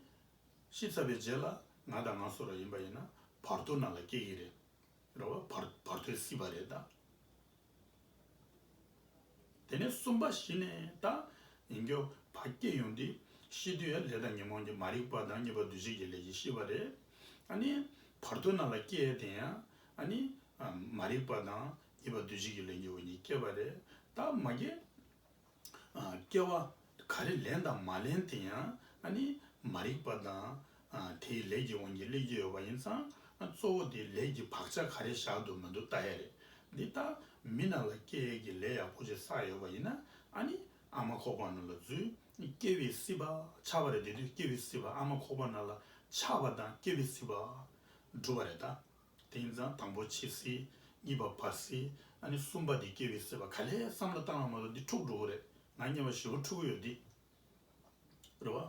ཤི་ཚར་བའི་རྗེས་ལ་ང་དང་ང་སོགས་ར་ཡིན་པ་ཡིན་ན་བར་དོའི་ནང་ལ་སྐྱེ་གི་རེད་ར་བ་བར་དོའི་སྲིད་པ་རེད་ད། དེ་ནས་གསུམ་པ་བཞི་ནས་དང། ཡིན་གྱི། བ་སྐྱེས་ཡོང་དུས། ཤི་དུས་ཡང་ལས་དང་ཉོན་མོངས་ཀྱི་མ་རིག་པ་དང་གཉིས་པ་འདུ་བྱེད་ཀྱི་ལས་ཀྱིས་ཤི་བ་རེད། ཨ་ནི། བར་དོ་ན་ལ་སྐྱེས་དེ་ཡང། ཨ་ནི། མ་རིག་པ་དང་གཉིས་པ་འདུ་བྱེད་ཀྱི་ལས་ཀྱི་འོག་ཉིད་སྐྱེ་བ་རེད། ད་མ་སྐྱེས། སྐྱེ་བ་ག་རེ་ལེན་དང་མ་ལེན་དེ་ཡང་མ་རིག་པ་དང། དེའི་ལས་ཀྱི་དབང་གིས་བསླད་ཀྱི་ཡོད་པ་ཡིན་ཙང་གཙོ་བོ་དེའི་ལས་ཀྱི་བག་ཆགས་ག་རེ་བཞག་འདུག་མི་འདུག་བལྟ་ཡ་རེད། འདི་ལྟར་མི་རྣམས་ལ་སྐྱེ་ཡས་ཀྱི་ལས་ཡག་པོ་ཞིག་བསགས་ཡོད་པ་ཡིན་ན་ཨ་ནི་ཨ་མ་ཁོག་པ་ན་ལ་རྫུས། སྐྱེ་བའི་སྲིད་པ་ཆགས་པ་རེད་དེ་དུས་སྐྱེ་བའི་སྲིད་པ་ཨ་མ་ཁོག་པ་ན་ལ་ཆགས་པ་དང་སྐྱེ་བའི་སྲིད་པ་འགྲུབ་པ་རེད་ད། དེ་ཡིན་ཙང་དང་པོ་འཆི་སྲིད། གཉིས་པ་བར་སྲིད། ཨ་ནི་གསུམ་པ་དེ་སྐྱེ་བའི་སྲིད་པ་ག་ལེ་བསམ་བློ་བཏང་བ་མ་གཏོགས་འདི་འཁྲུགས་འགྲོ་གི་རེད་ང་བརྙས་པ་བཞི་བོ་འཁྲུགས་གི་ཡོད་འདི། རེད་བ།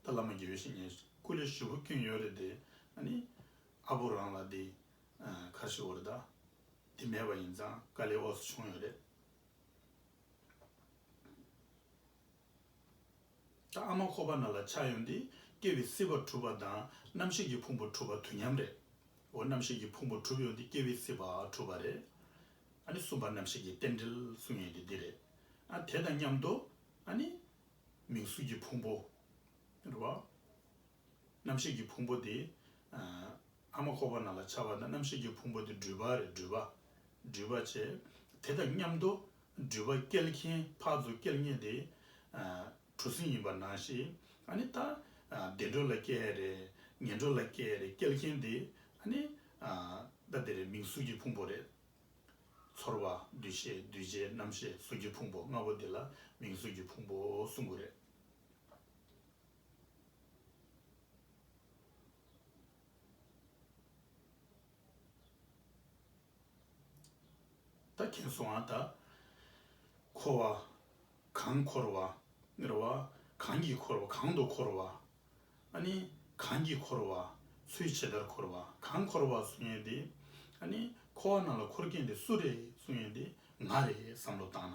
ད་བླ་མ་དགེ་བའི་བཤེས་གཉེན་སྐུ་ལས་བཞི་བོ་བསྐྱོན་ཡོད་རེད་དེ་ཨ་ནི། ཨ་བོ་རང་ལ་དེ། ཁར་ཤི་བོ་རེད་ད། དེ་མེད་པ་ཡིན་ཙང་དཀའ་ལས་འོག་སུ་བྱུང་ཡོད་རེད། ད་ཨ་མ་ཁོ་པ་ན་ལ་ཆགས་ཡོང་འདི་སྐྱེ་བའི་སྲིད་པ་གྲུབ་པ་དང་རྣམ་ཤེས་ཀྱི་ཕུང་པོ་གྲུབ་པ་དུས་མཉམ་རེད་འོ་རྣམ་ཤེས་ཀྱི་ཕུང་པོ་གྲུབ་ཡོང་འདི་སྐྱེ་བའི་སྲིད་པ་གྲུབ་པ་རེད་ཨ་ནི་གསུམ་པ་རྣམ་ཤེས་ཀྱི་རྟེན་འབྲེལ་གསུངས་ཡོང་འདི་འདི་རེད་ཨ་དེ་དང་མཉམ་དུ་ཨ་ནི་མིང་གཟུགས་ཀྱི་ཕུང་པོ་རེད་བ། རྣམ་ཤེས་ཀྱི་ཕུང་པོ་དེ། ཨ་མ་འཁོར་བ་ན་ལ་འཆར་བ་ན་རྣམ་ཤེས་ཀྱི་ཕུང་པོ་དེ་སྦྲུལ་པ་རེད་སྦྲུལ་པ། སྦྲུལ་པ་ཆེ། དེ་དང་མཉམ་དུ། སྦྲུལ་པ་སྐྱེལ་མཁན་ཕག་མཛོ་སྐྱེལ་མཁན་དེ། གྲུ་གཟིངས་ཡིན་པར་སྣང་ཞིག། ཨ་ནི་ད། བདེ་འགྲོ་ལ་སྐྱེལ་ཡ་རེད། ངན་འགྲོ་ལ་སྐྱེལ་ཡ་རེད་སྐྱེལ་མཁན་དེ། ཨ་ནི། ད་དེ་རེད་མིང་གཟུགས་ཀྱི་ཕུང་པོ་རེད། ཚོར་བ། འདུ་ཤེས་འདུས་བྱས་རྣམ་ཤེས་གཟུགས་ཀྱི་ཕུང་པོ་ལྔ་པོ་དེ་ལ་མིང་གཟུགས་ཀྱི་ཕུང་པོ་གསུམ་དགུ་རེད། ད་མཁྱེན་སོང་ང་ད། འཁོར་བ་གང་འཁོར་བ། རེ་བ་གང་གིས་འཁོར་བ་གང་དུ་འཁོར་བ། ཨ་ནི་གང་གིས་འཁོར་བ། ཚུལ་ཇི་ལྟར་འཁོར་བ་གང་འཁོར་བ་གསུང་ཡོད་དེ། ཨ་ནི་འཁོར་བ་རྣམས་ལ་འཁོར་མཁན་དེ་སུ་རེད་གསུང་ཡོད་དེ། ང་རེད་བསམ་བློ་བཏང་ན།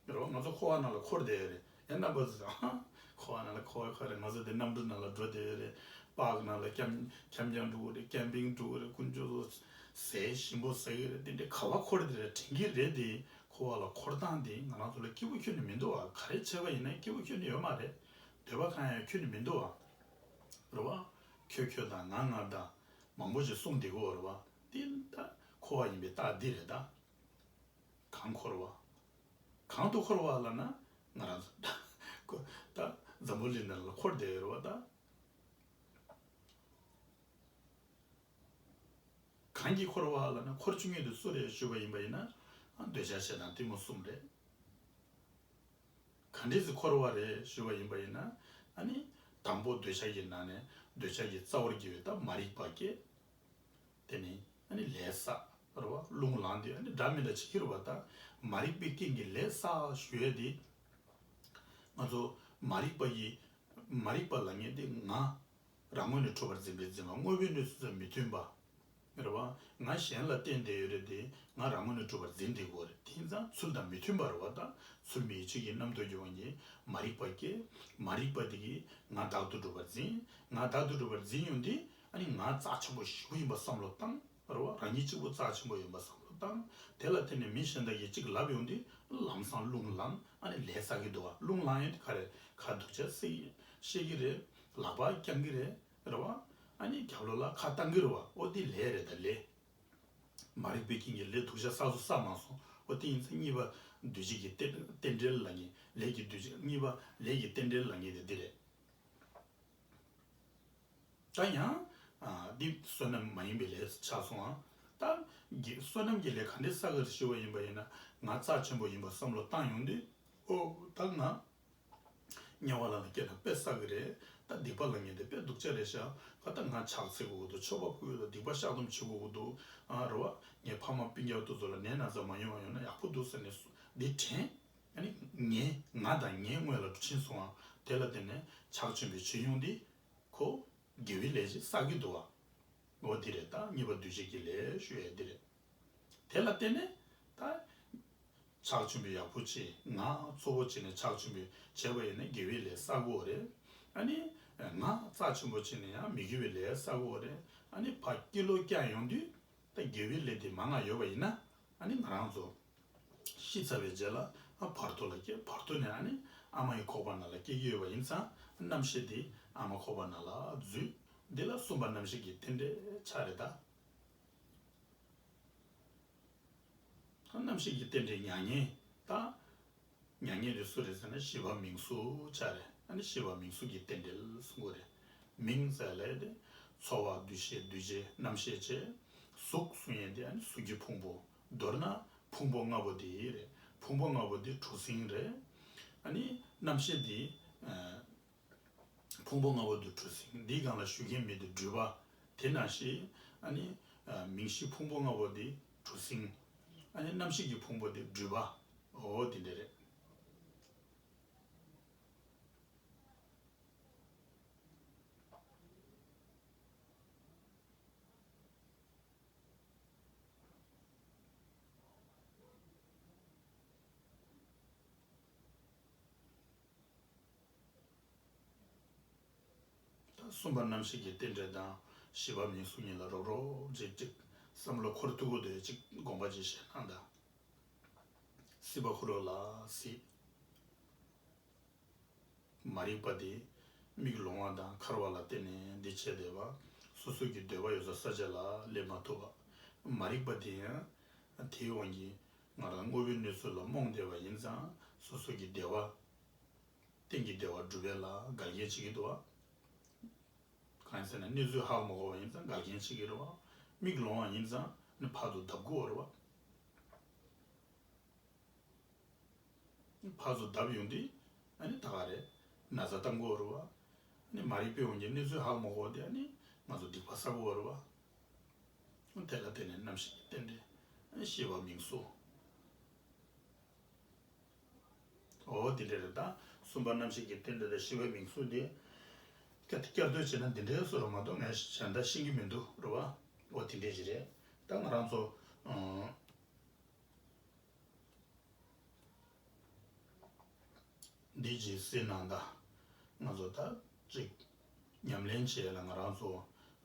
འགྲོ་བ་ང་ཚོ་འཁོར་བ་ནང་ལ་འཁོར་བསྡད་ཡོད་རེད་ཡ་རྣམ་པ་ཚོས་ཀྱང་ཧ། འཁོར་བ་ནང་ལ་འཁོར་བ་ཁག་རེད་ང་ཚོ་འདི་གནམ་གྲུ་ནང་ལ་འགྲོ་བསྡད་ཡོད་རེད་པཱག་ནང་ལ་ཁྱམས་ཁྱམས་རྒྱང་དྲུག་རེད Camping དྲུག་རེད་ཀུན་སྤྱོད་ཚོ་ཟས་ཞིམ་པོ་ཟ་གི་རེད་དེ་འདྲའི་ཁ་བ་འཁོར་བསྡད་རེད་དྲན་གི་རེད་དེ་འཁོར་བ་ལ་འཁོར་སྟངས་དེ་ང་རང་ཚོ་ལ་སྐྱིད་པོ་ཁྱོན་ནས་མི་འདུག་ཨ་ག་རེ་བྱས་པ་ཡིན་ན་སྐྱིད་པོ་ཁྱོན་ནས་ཡོད་མ་རེད་འདོད་པ་གང་ཡང་ཁྱོན་ནས་མི་འདུག་ཨ་རེད་བ། ཁྱོད་ཁྱོད་དང་ང་ང་དང། མང་པོ་ཞིག་གསུངས་འདི་གོ་རེད་བ། འདི་ད་འཁོར་བ་ཡིན་པའི་རྟགས་འདི་རེད་ད། གང་འཁོར་བ། གང་དུ་འཁོར་བ་ལ་ན་ང་རང་ཚོ་དང། འཛམ་བུ་གླིང་ནང་ལ་འཁོར་བསྡད་ཡོད་རེད་བ་དང། གང་གིས་འཁོར་བ་ལ་ན་འཁོར་བཅུ་གཉིས་དུ་སུ་རེད་ཞུས་པ་ཡིན་པ་ཡིན་ན། འདོད་ཆགས་ཆེ་དང་གཏི་མུག་གསུམ་རེད། གང་འདི་ཚོ་འཁོར་བ་རེད་ཞུས་པ་ཡིན་པ་ཡིན་ན། དང་པོ་འདོད་ཆགས་ཀྱི་ནང་ནས་འདོད་ཆགས་ཀྱི་རྩ་བར་གྱུར་བའི་ད་མ་རིག་པ་སྐྱེ། དེ་ནི་ལས་བསགས་ར་བ་རླུང་ལངས་ཏེ་སྒྲ་མི་འདྲ་ཇི་སྐད་རུ་བ་ལྟར་མ་རིག་པའི་རྐྱེན་གྱིས་ལས་བསགས་གཞོལ་ཏེ། ང་ཚོ་མ་རིག་པ་ཡིས་མ་རིག་པ་ལ་ཉན་ཏེ་ང་རང་ངོས་ནས་འཁྲུལ་བར་འཛིན་པས་འཛིན་པ་དངོས་པོའི་གནས་ཚུལ་དང་མི་མཐུན་པ། རེ་བ་ང་གཞན་ལ་བརྟེན་བསྡད་ཡོད་རེད་དེ་ང་རང་ངོས་ནས་འཁྲུལ་བར་འཛིན་བསྡད་དགོས་རེད་དེ་ཚང་ཚུལ་དང་མི་མཐུན་པ་རེ་བ་ལྟར་ཚུལ་མིན་ཡིད་བྱེད་ཀྱི་རྣམ་རྟོག་གི་དབང་གིས་མ་རིག་པ་སྐྱེ། མ་རིག་པ་དེ་གིས་ང་བདག་ཏུ་སྒྲུབ་པར་འཛིན། ང་བདག་ཏུ་སྒྲུབ་པར་འཛིན་ཡོང་དུས་ཨ་ནི་ང་རྩ་ཆེན་པོ་བཞི་པོ་ཡིན་པ་བསམ་བློ་བཏང། རེ་བ་རང་ཉིད་གཅིག་པུ་རྩ་ཆེན་པོ་ཡིན་པ་བསམ་བློ་བཏང། དེ་ལ་བརྟེན་ནས་མི་གཞན་དག་གིས་གཅིག་ལབ་ཡོང་དུས་ལམ་སང་རླུང་བསླངས་ཨ་ནི་ལས་ཚར་གི་འདུག་ག་རླུང་བསླངས་ཡོང་དུས་ཁ་རེ་ཁ་རྡོ་ཆས་བཤལ་གི་རེད། ལག་པ་བརྐྱང་གི་རེད། རེ་བ་ཨ་ནི་རྒྱབ་ལོགས་ལ་ཁ་བཏང་གི་རེ་བ་ཨོ་ཏི་ལས་རེད་ད་ལས། མ་རིག་པའི་རྐྱེན་གྱིས་ལས་སྡུག་ཤ་ཟ་བཟོ་ས་མང་སོང་ཨོ་ཏི་ཡིན་ཚེ་གཉིས་པ་བདུད་བྱེད་ཀྱི་རྟེན་འབྲེལ་ལ་ངེས་ལས་ཀྱི་བདུད་བྱེད་གཉིས་པ་ལས་ཀྱི་རྟེན་འབྲེལ་ལ་ངེས་དེ་འདི་རེད། ད་ཡང། འདི་བསོད་ནམས་མ་ཡིན་པའི་ལས་སུ་ཆགས་སོང་ཨང། ད། བསོད་ནམས་ཀྱི་ལས་ག་འདྲའི་ས་ག་རུ་ཤི་བ་ཡིན་པ་ཡིན་ན་ང་རྩ་ཆེན་པོ་ཡིན་པར་བསམ་བློ་བཏང་ཡོང་དུས། ཨོ། ད་ང། དམྱལ་བ་ལ་ལ་སྐྱེས་ན་དཔེ་བསགས་ཀྱི་རེད། ད་སྡིག་པ་ལ་ངེས་ཏེ་དཔེ་སྡུག་ཅག་རེ་བཞག་ག་ད་ང་ཆགས་ཚེ་གོ་གི་འདུག་ཆོ་ག་བསྐུལ་ལ་སྡིག་པ་བཤགས་སྡོམ་བྱེད་གོ་གི་འདུག་ཨ་རོ། ངའི་ཕ་མ་སྤུན་རྒྱག་ཏུ་ཚོ་ལ་ནད་ན་ཚ་མ་ཡོང་བ་ཡོང་ན་ཡག་པོ་འདུག་ཟེར་ནས་སུ་འདི་དྲན། ངའི་ང་དང་ངའི་དངོས་ལ་འབྲུ་ཕྱིན་སོང་བ་དེ་ལ་བརྟེན་ནས་ཕྱག་ཆེན་པོའི་ཕྱིར་ཡོང་འདི་ཁོ། དགེ་བའི་ལས་ཅི་བསགས་ཀྱི་འདུག་བ། འོ་འདི་རེད་ད་གཉིས་པ་འདུལ་བྱེད་ཀྱི་ལས་ཞུ་ཡས་འདི་རེད། དེ་ལ་བརྟེན་ནས་ད། ཕྱག་ཆེན་པོའི་ཡག་པོ་ཅི་ང་གཙོ་བོ་བྱས་ནས་ཕྱག་ཆེན་པོས་བྱས་པ་ཡིན་ན་དགེ་བའི་ལས་བསགས་གོ་རེད། ཨ་ནི། ང་རྩ་ཆེན་པོ་བྱས་ནས་ཡང་མི་དགེ་བའི་ལས་བསགས་གོ་རེད། ཨ་ནི་བ་སྐྱིད་ལོ་སྐྱག་ཡོང་དུས། ད་དགེ་བའི་ལས་དེ་མ་ང་ཡོད་པ་ཡིན་ན། ཨ་ནི་ང་རང་ཚོ། ཤི་ཚར་བའི་རྗེས་ལ་བར་དོ་ལ་སྐྱེས་བར་དོ་ནས་ནི་ཨ་མ་ཡི་ཁོག་པ་ན་ལ་སྐྱེས་ཡོད་པ་ཡིན་ཙང་རྣམ་ཤེས་འདི་ཨ་མ་ཁོག་པ་ན་ལ་རྫུས། འདི་ལ་གསུམ་པ་རྣམ་ཤེས་ཀྱི་རྟེན་འབྲེལ་ཆ་རེ་གདའ། རྣམ་ཤེས་ཀྱི་རྟེན་འབྲེལ་མྱ་ངན་གདའ། མྱ་ངན་དེ་སུ་རེད་ཟེར་ན་ཤི་བ་མིང་གཟུགས་ཆ་རེད་ནི་ཤི་བ་མིང་གཟུགས་ཀྱི་རྟེན་འབྲེལ་སུ་འགོ་རེད། མིང་ཟེར་ལས་ཏེ། འཚོ་བ་འདུ་ཤེས་འདུ་བྱེད་རྣམ་ཤེས་བྱེད། གཟུགས་སུ་ཡིན་ཏེ་ནི་གཟུགས་ཀྱི་ཕུང་པོ། མདོར་ན་ཕུང་པོ་ལྔ་པོ་འདི་རེད། ཕུང་པོ་ལྔ་པོ་འདི་གྲུ་གཟིངས་རེད། ཨ་ནི། རྣམ་ཤེས་འདི། ཕུང་པོ་ལྔ་པོ་འདི་གྲུ་གཟིངས་འདི་གང་ལ་ཞུགས་མཁན་མེད་དེ་སྦྲུལ་པ། དེ་ན་ཞིག། ཨ་ནི། མིང་གཞི་ཕུང་པོ་ལྔ་པོ་འདི་གྲུ་གཟིངས། ཨ་ནི་རྣམ་ཤེས་ཀྱི་ཕུང་པོ་འདི་སྦྲུལ་པ། འོ་དེ་འདྲ་རེད། གསུམ་པ་རྣམ་ཤེས་ཀྱི་རྟེན་འབྲེལ་དང་བཞི་པ་མིང་གཟུགས་གཉིས་ལ་རོགས་རོགས་རྗེས་གཅིག་བསམ་བློ་འཁོར་ཐུ་གུ་དོན་གཅིག་དགོངས་པ་གཅིག་ཞེ་སྣང་དང། སྲིད་པ་ཧུ་རོ་ལ་སྲིད། མ་རིག་པ་དེ། མིག་ལོང་བ་དང་འཁར་བ་ལ་བརྟེན་ནས་འདི་བྱས་འདི་བ། སོ་སོ་གི་འདོད་པ་ཡོད་སར་ས་ཆ་ལ་སླེབས་མ་ཐུབ་པ། མ་རིག་པ་དེ། དེའི་དབང་གིས། ང་རང་དངོས་པོའི་གནས་ཚུལ་ལ་རྨོངས་བསྡད་པ་ཡིན་ཙང་སོ་སོ་གི་བདེ་བ། གཏན་གྱི་བདེ་བ་སྒྲུབ་པའི་ལ་དགར་རྐྱེན་བྱེད་ཀྱི་འདུག་བ། གང་ཡིན་ཟེར་ན་གནས་ཚུལ་ཧ་གོ་མ་གོ་བ་ཡིན་ཙང་དགར་རྐྱེན་བྱེད་ཀྱི་རེད་བ། མིག་ལོང་བ་ཡིན་ཙང་ནི་ཕར་དུ་ལྡབ་འགུག་བ་རེད་བ། བར་དུ་བརྡབ་ཡོང་དུས་ནི་ད་ག་རེད། ན་བཟའ་ལྟ་མགོ་བོར་བ། ནི་མ་རིག་པས་འོང་གི་གནས་ཚུལ་ཧ་གོ་མ་གོ་དེ་ནི་ང་ཚོ་སྡིག་པ་བསག་གོ་བོར་བ། དེ་ལ་བརྟེན་ནས་ནམ་ཞིག་རྟེན་འབྲེལ་ཤེས་པ་མིང་གསོ། འོ་འདི་འདྲས་རེད་ད། གསུམ་པ་ནམ་ཞིག་གི་རྟེན་འབྲེལ་ཤེས་པའི་མིང་གསོ་དེ། བསྐྱར་ཟློས་བྱས་ན་འདི་འདྲས་གསོ་རོགས་མ་གཏོགས་ངས་གཞན་དག་ཤེས་གི་མི་འདུག་རོ། འོ་དེ་འདྲས་ཞིག་རེད་ད་ང་རང་ཚོ། འདི་ཇི་སྲིད་ནང་ད་ང་ཚོ་དག་ཅིག་ཉམས་ལེན་བྱས་ལ་ང་རང་ཚོ་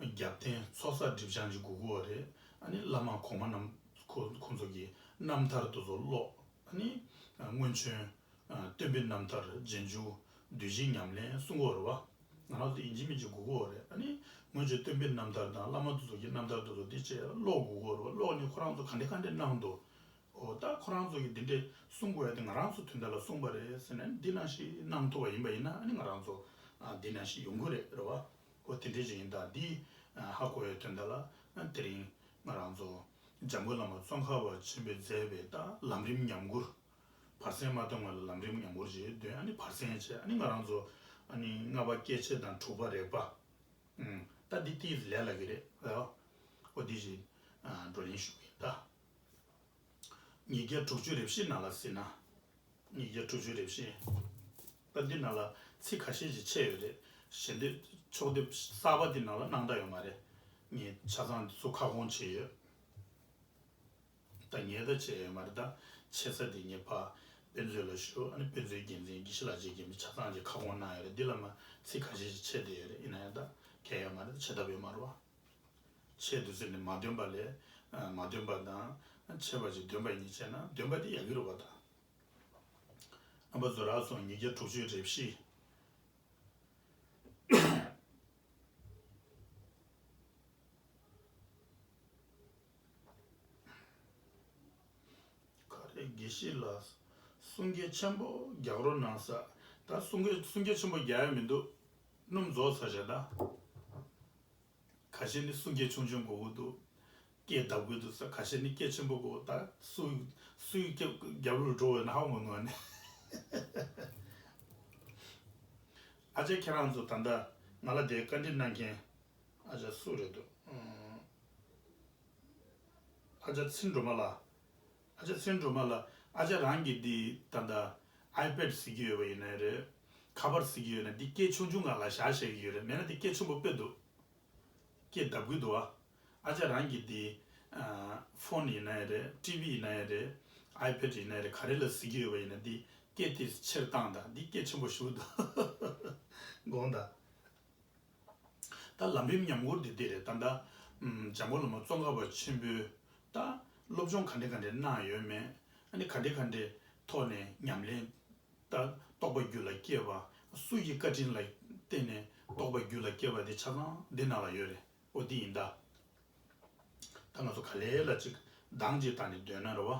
རྒྱབ་རྟེན་ཚོགས་བསགས་སྒྲིབ་སྦྱང་གི་གུ་གུ་བ་རེད་ཨ་ནི་བླ་མ་གོང་མ་རྣམས་ཁོ་ཚོ་གི་རྣམ་ཐར་དུ་ཚོ་ཀློག་ཨ་ནི་སྔོན་བྱོན་སྟོན་པའི་རྣམ་ཐར་རྗེས་འཇུག་བདུད་བཞི་ཉམས་ལེན་བསྲུང་འཁོར་བ། ང་རང་ཚོ་ཡིན་གཅིག་མིན་གཅིག་གུ་གུ་རེད་ནི། སྔོན་ཆད་སྟོན་པའི་རྣམ་ཐར་དང་བླ་མ་དུ་ཚོགས་ཀྱི་རྣམ་ཐར་དུ་ཚོགས་འདི་བཅས་ཀློག་གུ་གུ་རེད་ཀློག་ནི་ཁོ་རང་ཚོ་ག་འདྲས་ག་འདྲས་གནང་འདུག་ཨོ་ད་ཁོ་རང་ཚོ་གིས་འདི་འདྲས་གསུང་དགོས་ཡ་དེ་ང་རང་ཚོ་དུས་འདའ་ལ་གསུང་པ་རེད་ཟེར་ནས་འདི་ན་ཞིག་གནང་ཐུབ་པ་ཡིན་པ་ཡིན་ན་ནི་ང་རང་ཚོ་འདི་ན་ཞིག་ཡོང་གི་རེད་རེད་བ། ཨོ་དེ་འདྲས་ཅིག་ཡིན་ད་འདི་ཧ་གོ་ཡའི་དུས་འདའ་ལ་དེ་རིང་ང་རང་ཚོ་འཇམ་མགོན་བླ་མ་ཙོང་ཁ་བ་ཆེན་པོས་མཛད་པའི་ལམ་རིམ་ཉམས་མགུར་བར་གསེང་མ་སྟོན་སྔོན་ལ་ལམ་རིམ་ཡང་བོར་ཅིག་བདུན་ཨ་ནི་བར་གསེང་བཅས་ཨ་ནི་ང་རང་ཚོ་ཨ་ནི་ལྔ་པ་སྐྱེད་བྱེད་དང་དྲུག་པ་རེག་པ། ད་འདི་ཏི་ལས་ལ་གི་རེད་ཨོ་ཨོ་འདི་ཞིག་བགྲོ་གླེང་ཞུ་གི་ཡིན་ད། ཉིས་བརྒྱ་དྲུག་ཅུ་རེ་བཞི་ན་ལ་ཟིན་ན་ཉིས་བརྒྱ་དྲུག་ཅུ་རེ་བཞི། ད་འདི་ན་ལ་ཚིག་ག་ཤེད་ཅིག་ཆད་ཡོད་རེད་ཞེ་འདོད་ཕྱོགས་སྡེབ་གསར་པ་འདི་ན་ལ་གནང་ད་ཡོད་མ་རེད་ངས་ཆ་ཚང་འདི་ཚོ་ཁ་སྐོང་བྱས་ཡོད། ད་ངས་ད་བྱས་ཡོད་མ་རེད་ད་བྱས་ས་དེ་ངས་ཕ་དཔེ་མཛོད་ལ་ཞུ་ཨ་ནི་དཔེ་མཛོད་རྒྱལ་མཚན་དགེ་བཤེས་ལགས་བཅས་ཀྱིས་མི་ཆ་ཚང་གཅིག་ཁ་སྐོང་གནང་ཡོད་རེད་འདི་ལ་མ་ཚིག་ཁ་ཤས་ཤིག་ཆད་བསྡད་ཡོད་རེད་ཡིན་ན་ཡང་ད་གས་ཡོད་མ་རེད་ད་བྱས་ཐབས་ཡོད་མ་རེད་བ། ཆད་འདུག་ཟེར་ནས་མ་འདོན་པ་ལས་མ་འདོན་པ་དང་ཆད་པ་ཅིག་འདོན་པ་གཉིས་བྱས་ན་འདོན་པ་དེ་ཡག་གི་རེད་བ་ད། ཨ་ཕ་བཟོ་རག་སོང་ཉིས་བརྒྱ་དྲུག་ཅུའི་རེབ་གཞི། ག་རེ་དགེ་བཤེས་ལགས། གསུང་སྐད་ཆེན་པོ་རྒྱག་རོགས་གནང། ས་ད་གསུང་སྐད་གསུང་སྐད་ཆེན་པོ་རྒྱག་ཡ་མི་འདུག་སྣུམ་རྫོགས་ཚར་བཞག་ད། ག་བཤེས་ནི་གསུང་སྐད་ཆུང་ཆུང་གོ་གི་འདུག་སྐད་གདབ་གི་འདུག་ས་ག་བཤེས་ནི་སྐད་ཆེན་པོ་གོ་ད་སུ་སུའི་སྐད་རྒྱབ་ལོ་འགྲོ་འོད་ན་ཧ་ངོ་ནུ་ཨ་ནི། ཨ་ཅག་ཁྱེད་རང་ཚོ་ད་ལྟ་ང་ལ་དེ་བཀའ་འདྲི་གནང་མཁན་ཨ་ཅག་སུ་རེད་འདུག། ཨ་ཅག་ཚེ་འགྲོ་མ་ལ། ཨ་ཅག་ཚེ་འགྲོ་མ་ལ། ཨ་ཅག་རང་གིས་འདི་ད་ལྟ iPad གཟིགས་ཀྱི་ཡོད་པ་ཡིན་ནའི་རེད། ཁ་པར་གཟིགས་ཀྱི་ཡོད་ནའི་འདི་སྐད་ཆུང་ཆུང་གང་ལ་བཞག་བཤད་ཀྱི་ཡོད་རེད་མེད་ན་འདི་སྐད་ཆེན་པོ་སྤེལ་འདུག་སྐད་གདབ་གི་འདུག་ཨ། ཨ་ཅག་རང་གིས་འདི། Phone། ཡིན་ནའི་རེད TV ཡིན་ནའི་རེད iPad ཡིན་ནའི་རེད་ག་རེ་ལ་གཟིགས་ཀྱི་ཡོད་པ་ཡིན་ནའི་འདི་སྐད་དེ་ཕྱིར་བཏང་དང་འདི་སྐད་ཆེན་པོ་ཞུ་དགོངས་དང། ད་ལམ་རིམ་ཉམས་འགོར་འདི་བདེ་རེད་ད། འདྲ་འཇམ་པོ་ལ་མོ་ཙོང་ཁ་བ་ཆེན་པོའི། ད་སློབ་སྦྱོང་ག་འདྲེ་ག་འདྲེ་གནང་ཡོད་མེད། ཨ་ནི་ག་འདྲེ་ག་འདྲེ་ཐོག་ནས་ཉམས་ལེན། ད་རྟོགས་པ་རྒྱུད་ལ་སྐྱེས་པ་སུ་ཡི་བཀའ་དྲིན་ལ་བརྟེན་ནས་རྟོགས་པ་རྒྱུད་ལ་སྐྱེས་པ་དེ་ཆ་ཚང་འདི་ན་ལ་ཡོད་རེད་ཨོ་འདི་ཡིན་ད། ད་ང་ཚོ་ག་ལེ་ལ་ཅིག་འདང་ཅིག་བཏང་ནས་སྡོད་ན་རེ་བ།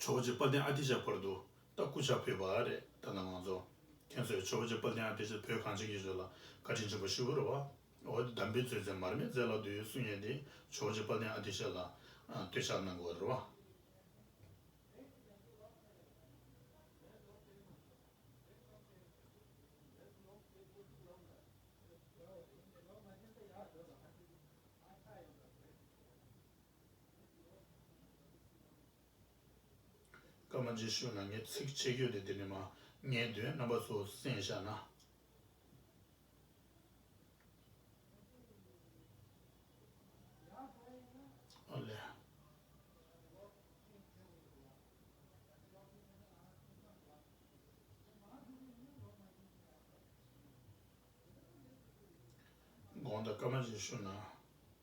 ཆོས་རྗེ་དཔལ་ལྡན་ཨ་ཏི་ཤ་བར་དུ་ལྟ་སྐུ་ཕྱག་ཕུལ་བ་རེད་ད་ནང་ང་ཚོ་ཁྱེད་ཚོས་ཆོས་རྗེ་དཔལ་ལྡན་ཨ་ཏི་ཤ་བོད་གངས་ཅན་གྱི་གཞོན་ལ་བཀའ་དྲིན་ཆེན་པོ་ཞུ་རོ་འོ་དེ་དམ་པའི་ཚུལ་ཚད་མར་མེ་མཛད་ལག་ཏུ་ཡོད་གསུང་ཡས་དེ་ཆོས་རྗེ་དཔལ་ལྡན་ཨ་ཏི་ཤ་ལ་བསྟོད་ཕྱག་གནང་དགོས་རོ། སྐར་མ་རྗེས་ཤུལ་ན་ངས་ཚིགས་བཅད་བརྒྱུད་དེ་འདི་ནས་མ་ངའི་དོན་རྣམ་པ་ཚོ་གསན་བཞག་ན། དགོངས་དག་སྐར་མ་རྗེས་ཤུལ་ན།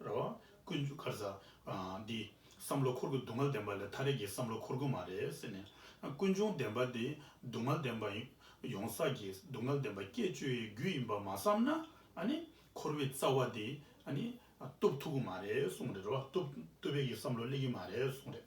ར་བ། ཀུན་སྤྱོད་ཁར་ཟ། འདི། བསམ་བློ་འཁོར་ཀུན་སྡུག་བསྔལ་ལྡན་པ་ལས་ཐ་རེ་གི་བསམ་བློ་འཁོར་ཀུན་མ་རེད་ཟེར་ནས། ཀུན་འབྱུང་བདེན་པ་དེ་སྡུག་བསྔལ་ལྡན་པ་ཡིན། ཡོང་ས་ཀྱི་སྡུག་བསྔལ་ལྡན་པ་སྐྱེད་བཅོས་ཡི་རྒྱུ་ཡིན་པ་མ་བསམ་ན། ཨ་ནི། འཁོར་བའི་རྩ་བ་དེ། ཨ་ནི། གཏུབ་ཐུབ་ཀུན་མ་རེད་གསུངས་རེད་ར་བ། གཏུབ། གཏུབ་པའི་གི་བསམ་བློ་སླེབས་ཀྱི་མ་རེད་གསུངས་རེད།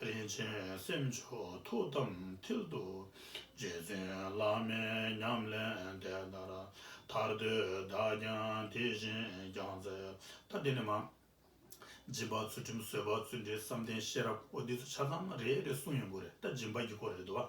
རིན་ཆེན་སེམས་མཆོག་ཐུགས་དམ་མཐིལ་དུ་རྗེ་བཙུན་བླ་མའི་ཉམས་ལེན་དེ་ལྟར་ཐར་འདོད་བདག་ཀྱང་དེ་བཞིན་སྦྱངས་མཛད། ད་འདི་ནས་མ། སྦྱིན་པ་ཚུལ་ཁྲིམས་བཟོད་པ་བརྩོན་འགྲུས་བསམ་གཏན་ཤེས་རབ་འོ་འདི་ཚོ་ཆ་ཚང་རེད་རེད་གསུངས་ཡོང་གི་རེད་ད་སྦྱིན་པ་གི་སྐོར་རེད་དོ།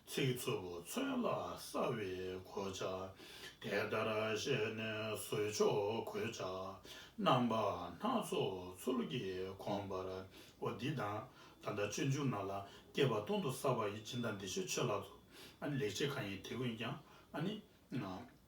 ཚིག་རྩུབ་མཚོན་ལ་ས་བའི་གོ་ཆ། དེ་ལྟར་བཤད་ནས་བཟོད་མཆོག་གོད་ཆག། རྣམ་པ་སྣ་ཚོགས་ཚུལ་གྱིས་གོམས་པར་བོ། འདི་དང་ད་ལྟ་ཆོས་འབྱུང་རྣམས་ལ་སྐྱེས་པ་སྟོང་དུ་ས་བ་ཡི་སྦྱིན་དང་འདི་ཆོས་ཆོས་ལགས་སོ། ལེགས་བྱས་གང་ཡིན་དེ་ཀུན་ཀྱང།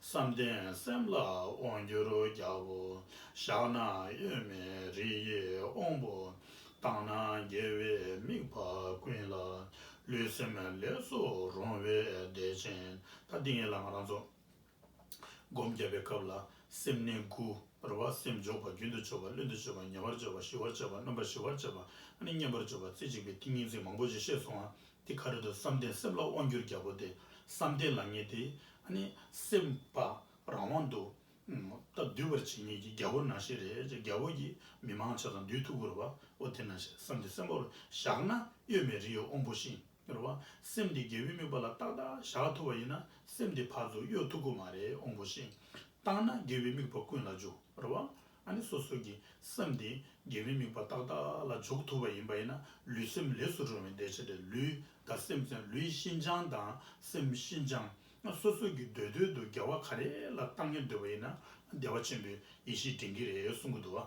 བསམ་གཏན་སེམས་ལ་དབང་བསྒྱུར་རྒྱ་བོ། བཞག་ན་གཡོན་མའི་རི་ཡི་དབང་པོ། བཏང་ན་རྒྱལ་བའི་མིག་ཕ་ཀུན་ལ། ལུས་སེམས་ལས་སུ་རུང་བའི་བདེ་ཆེན་ད། ཏིང་ངེ་ལ་ང་རང་ཚོགས། སྒོམ་བརྒྱབ་པའི་སྐབས་ལ་སེམས་གནས་དགུ། རེ་བ་སེམས་འཇོག་པ་རྒྱུན་དུ་སྤྱོད་པ་རླུད་དུ་སྤྱོད་པ་ཉེ་བར་སྤྱོད་པ་ཞི་བར་སྤྱོད་པ་སྣོན་པ་ཞི་བར་སྤྱོད་པ་ཨ་ནི་མཉམ་པར་སྤྱོད་པ་རྩེ་གཅིག་པའི་ཏིང་ངེ་འཛིན་མང་པོ་ཞེས་བཤད་སོང་ང། དེ་ག་རེ་དུ་བསམ་གཏན་གསེབ་ལ་དབང་བསྒྱུར་རྒྱལ་པོ་དེ་བསམ་གཏན་ལ་ངེས་ཏེ། སེམས་དཔའ་རང་དབང་དུ་སྟབས་བསྡུས་པར་བྱེད་ངེས་ཀྱི་རྒྱལ་པོ་ནང་ཤེས་རེད་ཅེས་རྒྱལ་པོ་ཀྱི་མི་མང་ཕྱག་དང་རྡུལ་ཐུག་གུ་རུ་པའོ་དེ་ནང་ཤེས་བསམ་གཏན་གསེབ་མོར་བཞག་ན་གཡོ་མེད་རི་ཡི་དབང་པོ་བཞིན་རེད་བ། སེམས་དེ་རྒྱལ་པོའི་དམིགས་པ་ལ་ཏག་ཏག་བཞག་ཐུབ་པ་ཡིན་ན་སེམས་དེ་ཕར་ཚུར་གཡོ་ཐུག་གི་མ་རེད་དབང་པོ་བཞིན་བཏང་ན་དགེ་བའི་དམིགས་པ་ཀུན་ལ་འཇུག་རེད་བ། ཨ་ནི་སོ་སོ་ཀྱི་སེམས་དེ་དགེ་བའི་དམིགས་པ་ཏག་ཏག་ལ་འཇོག་ཐུབ་པ་ཡིན་པ་ཡིན་ན་ལུས་སེམས་ལེགས་སུ་འགྲོ་བའི་འདས་ཆ་དེ་ལུས་དང་སེམས་ཚེ་ལུས་ཤིན་སྦྱངས་དང་སེམས་ཤིན་སྦྱངས་སོ་སོ་ཀྱི་འདོད་འདོད་དུ་རྒྱལ་བ་ག་རེ་ལ་བཏང་ངེ་འདོད་པ་ཡིན་ན་བདེ་བ་ཆེན་པོའི་ཡེ་ཤེས་དྲན་གྱི་རེད་གསུང་གི་འདུག་ཨ།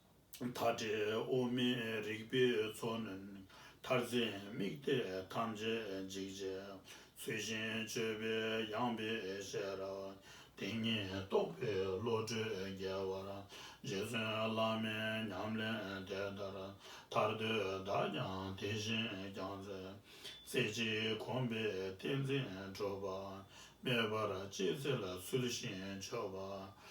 མཐའ་བྲལ་དབུ་མའི་རིགས་པའི་མཚོ་ནི། མཐར་འཛིན་དམིགས་གཏད་ཐམས་ཅད་འཇིག། ཚུལ་བཞིན་སྤྱོད་པས་ཡངས་པའི་ཤེས་རབ། ཏིང་ངེ་རྟོགས་པའི་བློ་གྲོས་རྒྱས། བར་རྗེ་བཙུན་བླ་མའི་ཉམས་ལེན་དེ་ལྟར། ཐར་འདོད་བདག་ཀྱང་དེ་བཞིན་བསྐྱང། རྩེ་གཅིག་གོམས་པས་ཏིང་འཛིན་གྲུབ། པདྨའི་བར་གཅིག་ཚེ་ལ་ཚུལ་བཞིན་སྤྱོད།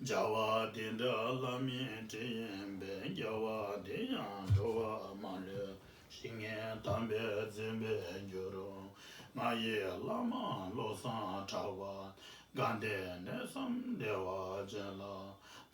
བྱ་བ་དེ་འདྲ་བླ་མའི་དྲིན་ཡིན་པས་བྱ་བ་དེ་ཡང་འགྲོ་བ་མ་ལུས་ཤིག་ངས་དམ་པས་བརྩོན་པའི་རྒྱུར། ང་ཡི་བླ་མ་བློ་བཟང་གྲགས་པ་དགའ་ལྡན་གནས་སམ་བདེ་བ་ཅན་ལ།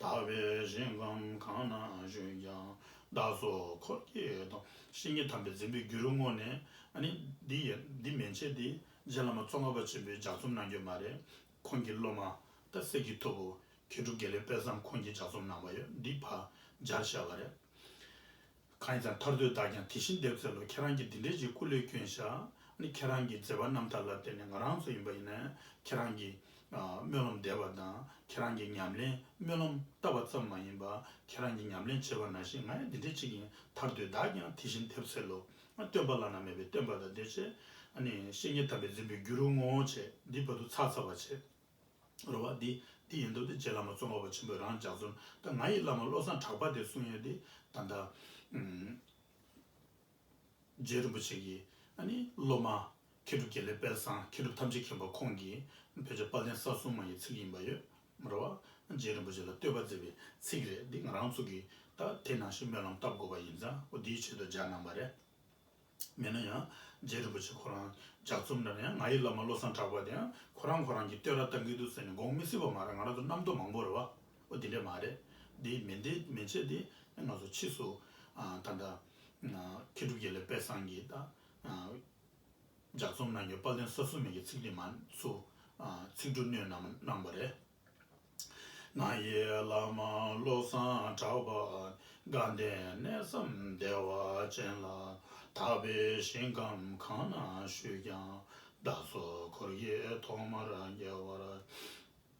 དག་པའི་ཞིང་ཁམས་གང་ན་བཞུགས་ཀྱང་བདག་སོགས་འཁོར་གྱི་དང། ཤིག་ངས་དམ་པས་བརྩོན་པའི་རྒྱུར་བསྔོ་ནས། འདི་མན་ཆད་དེ་རྗེ་བླ་མ་གཙོ་ངར་བ་ཆེན་པོའི་ལྗགས་རྩོམ་གནང་རྒྱུ་མ་རེད། ཁོང་གི་སློབ་མ་རྟ་གསེར་གྱི་ཐུ་བོ་མཁས་གྲུབ་དགེ་ལེགས་དཔལ་བཟང་ཁོང་གིས་ལྗགས་རྩོམ་གནང་བ་ཡོད་འདི་བར་སྦྱར་བཞག་པ་རེད། གང་ཡིན་ཙང་ཐར་འདོད་བདག་ཀྱང་དེ་བཞིན་འདེབས་འཚལ་ལོ་ཁྱེད་རང་གིས་འདི་འདྲའི་ཅིག་སྐུ་ལས་བསྐྱོན་བཞག་ནི་ཁྱེད་རང་གི་མཛད་པ་རྣམ་ཐར་ལ་བརྟེན་ནས་ང་རང་ཚོ་ཡིན་པ་ཡིན་ན་ཁྱེད་རང་གི་སྨོན་ལམ་འདེབས་པ་དང་ཁྱེད་རང་གི་ཉམས་ལེན་སྨོན་ལམ་བཏབ་པ་ཙམ་མ་ཡིན་པར་ཁྱེད་རང་གི་ཉམས་ལེན་བྱེད་པ་ན་ཞིག་ང་ཡང་འདི་འདྲའི་ཅིག་ཡིན་ཐར་འདོད་བདག་ཀྱང་དེ་བཞིན་འདེབས་འཚལ་ལོ་སྟོན་པ་བླ་ན་མེད་པའི་སྟོན་པ་དང་འདུས་བྱས་བཤེས་གཉེན་དམ་པས་འཛིན་པའི་རྒྱུ་རུ་བསྔོ་བྱས་འདིའི་བར་དུ་ཚགས་ཚགས་པར་བྱས། རོལ་བ་འདི་འདི་ཡིན་འདུག་སྟེ་རྗེ་བླ་མ་ཙོང་ཁ་པ་ཆེན་པོས་རང་ལྗགས་རྩོམ་ལྟར་ང་ཡི་བླ་མ་བློ་བཟང་གྲགས་པ་དེས་གསུང་ཡོད་དེ་ད་ལྟ་རྗེ་རིན་པོ་ཆེ་གིས་སློབ་མ། མཁས་གྲུབ་རྒྱལ་ལེགས་དཔལ་བཟང་མཁས་གྲུབ་ཐམས་ཅད་མཁྱེན་པ་ཁོང་གིས་བོད་ཆས་པ་ལན་ས་སྲུང་མ་ཡི་ཚིག་ཡིན་པ་ཡོད་རེད་བ། རྗེ་རིན་པོ་ཆེ་ལ་བསྟོད་པ་མཛད་པའི་ཚིག་རེད་འདི་ང་རང་ཚུགས་ཀྱི་ད་དེ་ནང་བཞིན་སྨོན་ལམ་བཏབ་དགོས་པ་ཡིན་ཙང་འོ་འདིའི་ཆེད་དུ་སྦྱར་གནང་བ་རེད། མིན་ན་ཡང་རྗེ་རིན་པོ་ཆེ་ཁོ་རང་ལྗགས་རྩོམ་འདྲ་ན་ཡང་ང་ཡི་བླ་མ་བློ་བཟང་གྲགས་པ་དེ་ཡང་ཁོ་རང་ཁོ་རང་གིས་བསྟོད་ར་བཏང་གི་འདུག་ཟེར་ནས་དགོངས་མི་སྲིད་པ་མ་རེད་ང་རང་ཚོ་རྣམ་རྟོག་མང་པོ་རེད་བ། འོ་འདི་འདྲས་མ་རེད་འདི་མི་འདི་མི་བྱེད་འདི་ང་ཚོ་ཕྱིས་སུ་ད་ལྟ་མཁས་གྲུབ་རྒྱལ་ལེགས་དཔལ་བཟང་གིས་ད། ལྗགས་རྩོམ་ནང་གི་པར་ལེན་ས་སུ་མེད་ཀྱི་ཚིག་དེ་མ་ཚུ། ཚིག་འབྲུ་སྣོད་རྣམས་སྣང་བ་རེད། ང་ཡི་བླ་མ་བློ་བཟང་གྲགས་པ་དགའ་ལྡན་གནས་སམ་བདེ་བ་ཅན་ལ་དག་པའི་ཞིང་ཁམས་གང་ན་བཞུགས་ཀྱང་བདག་སོགས་འཁོར་གྱི་ཐོག་མར་རྒྱལ་བར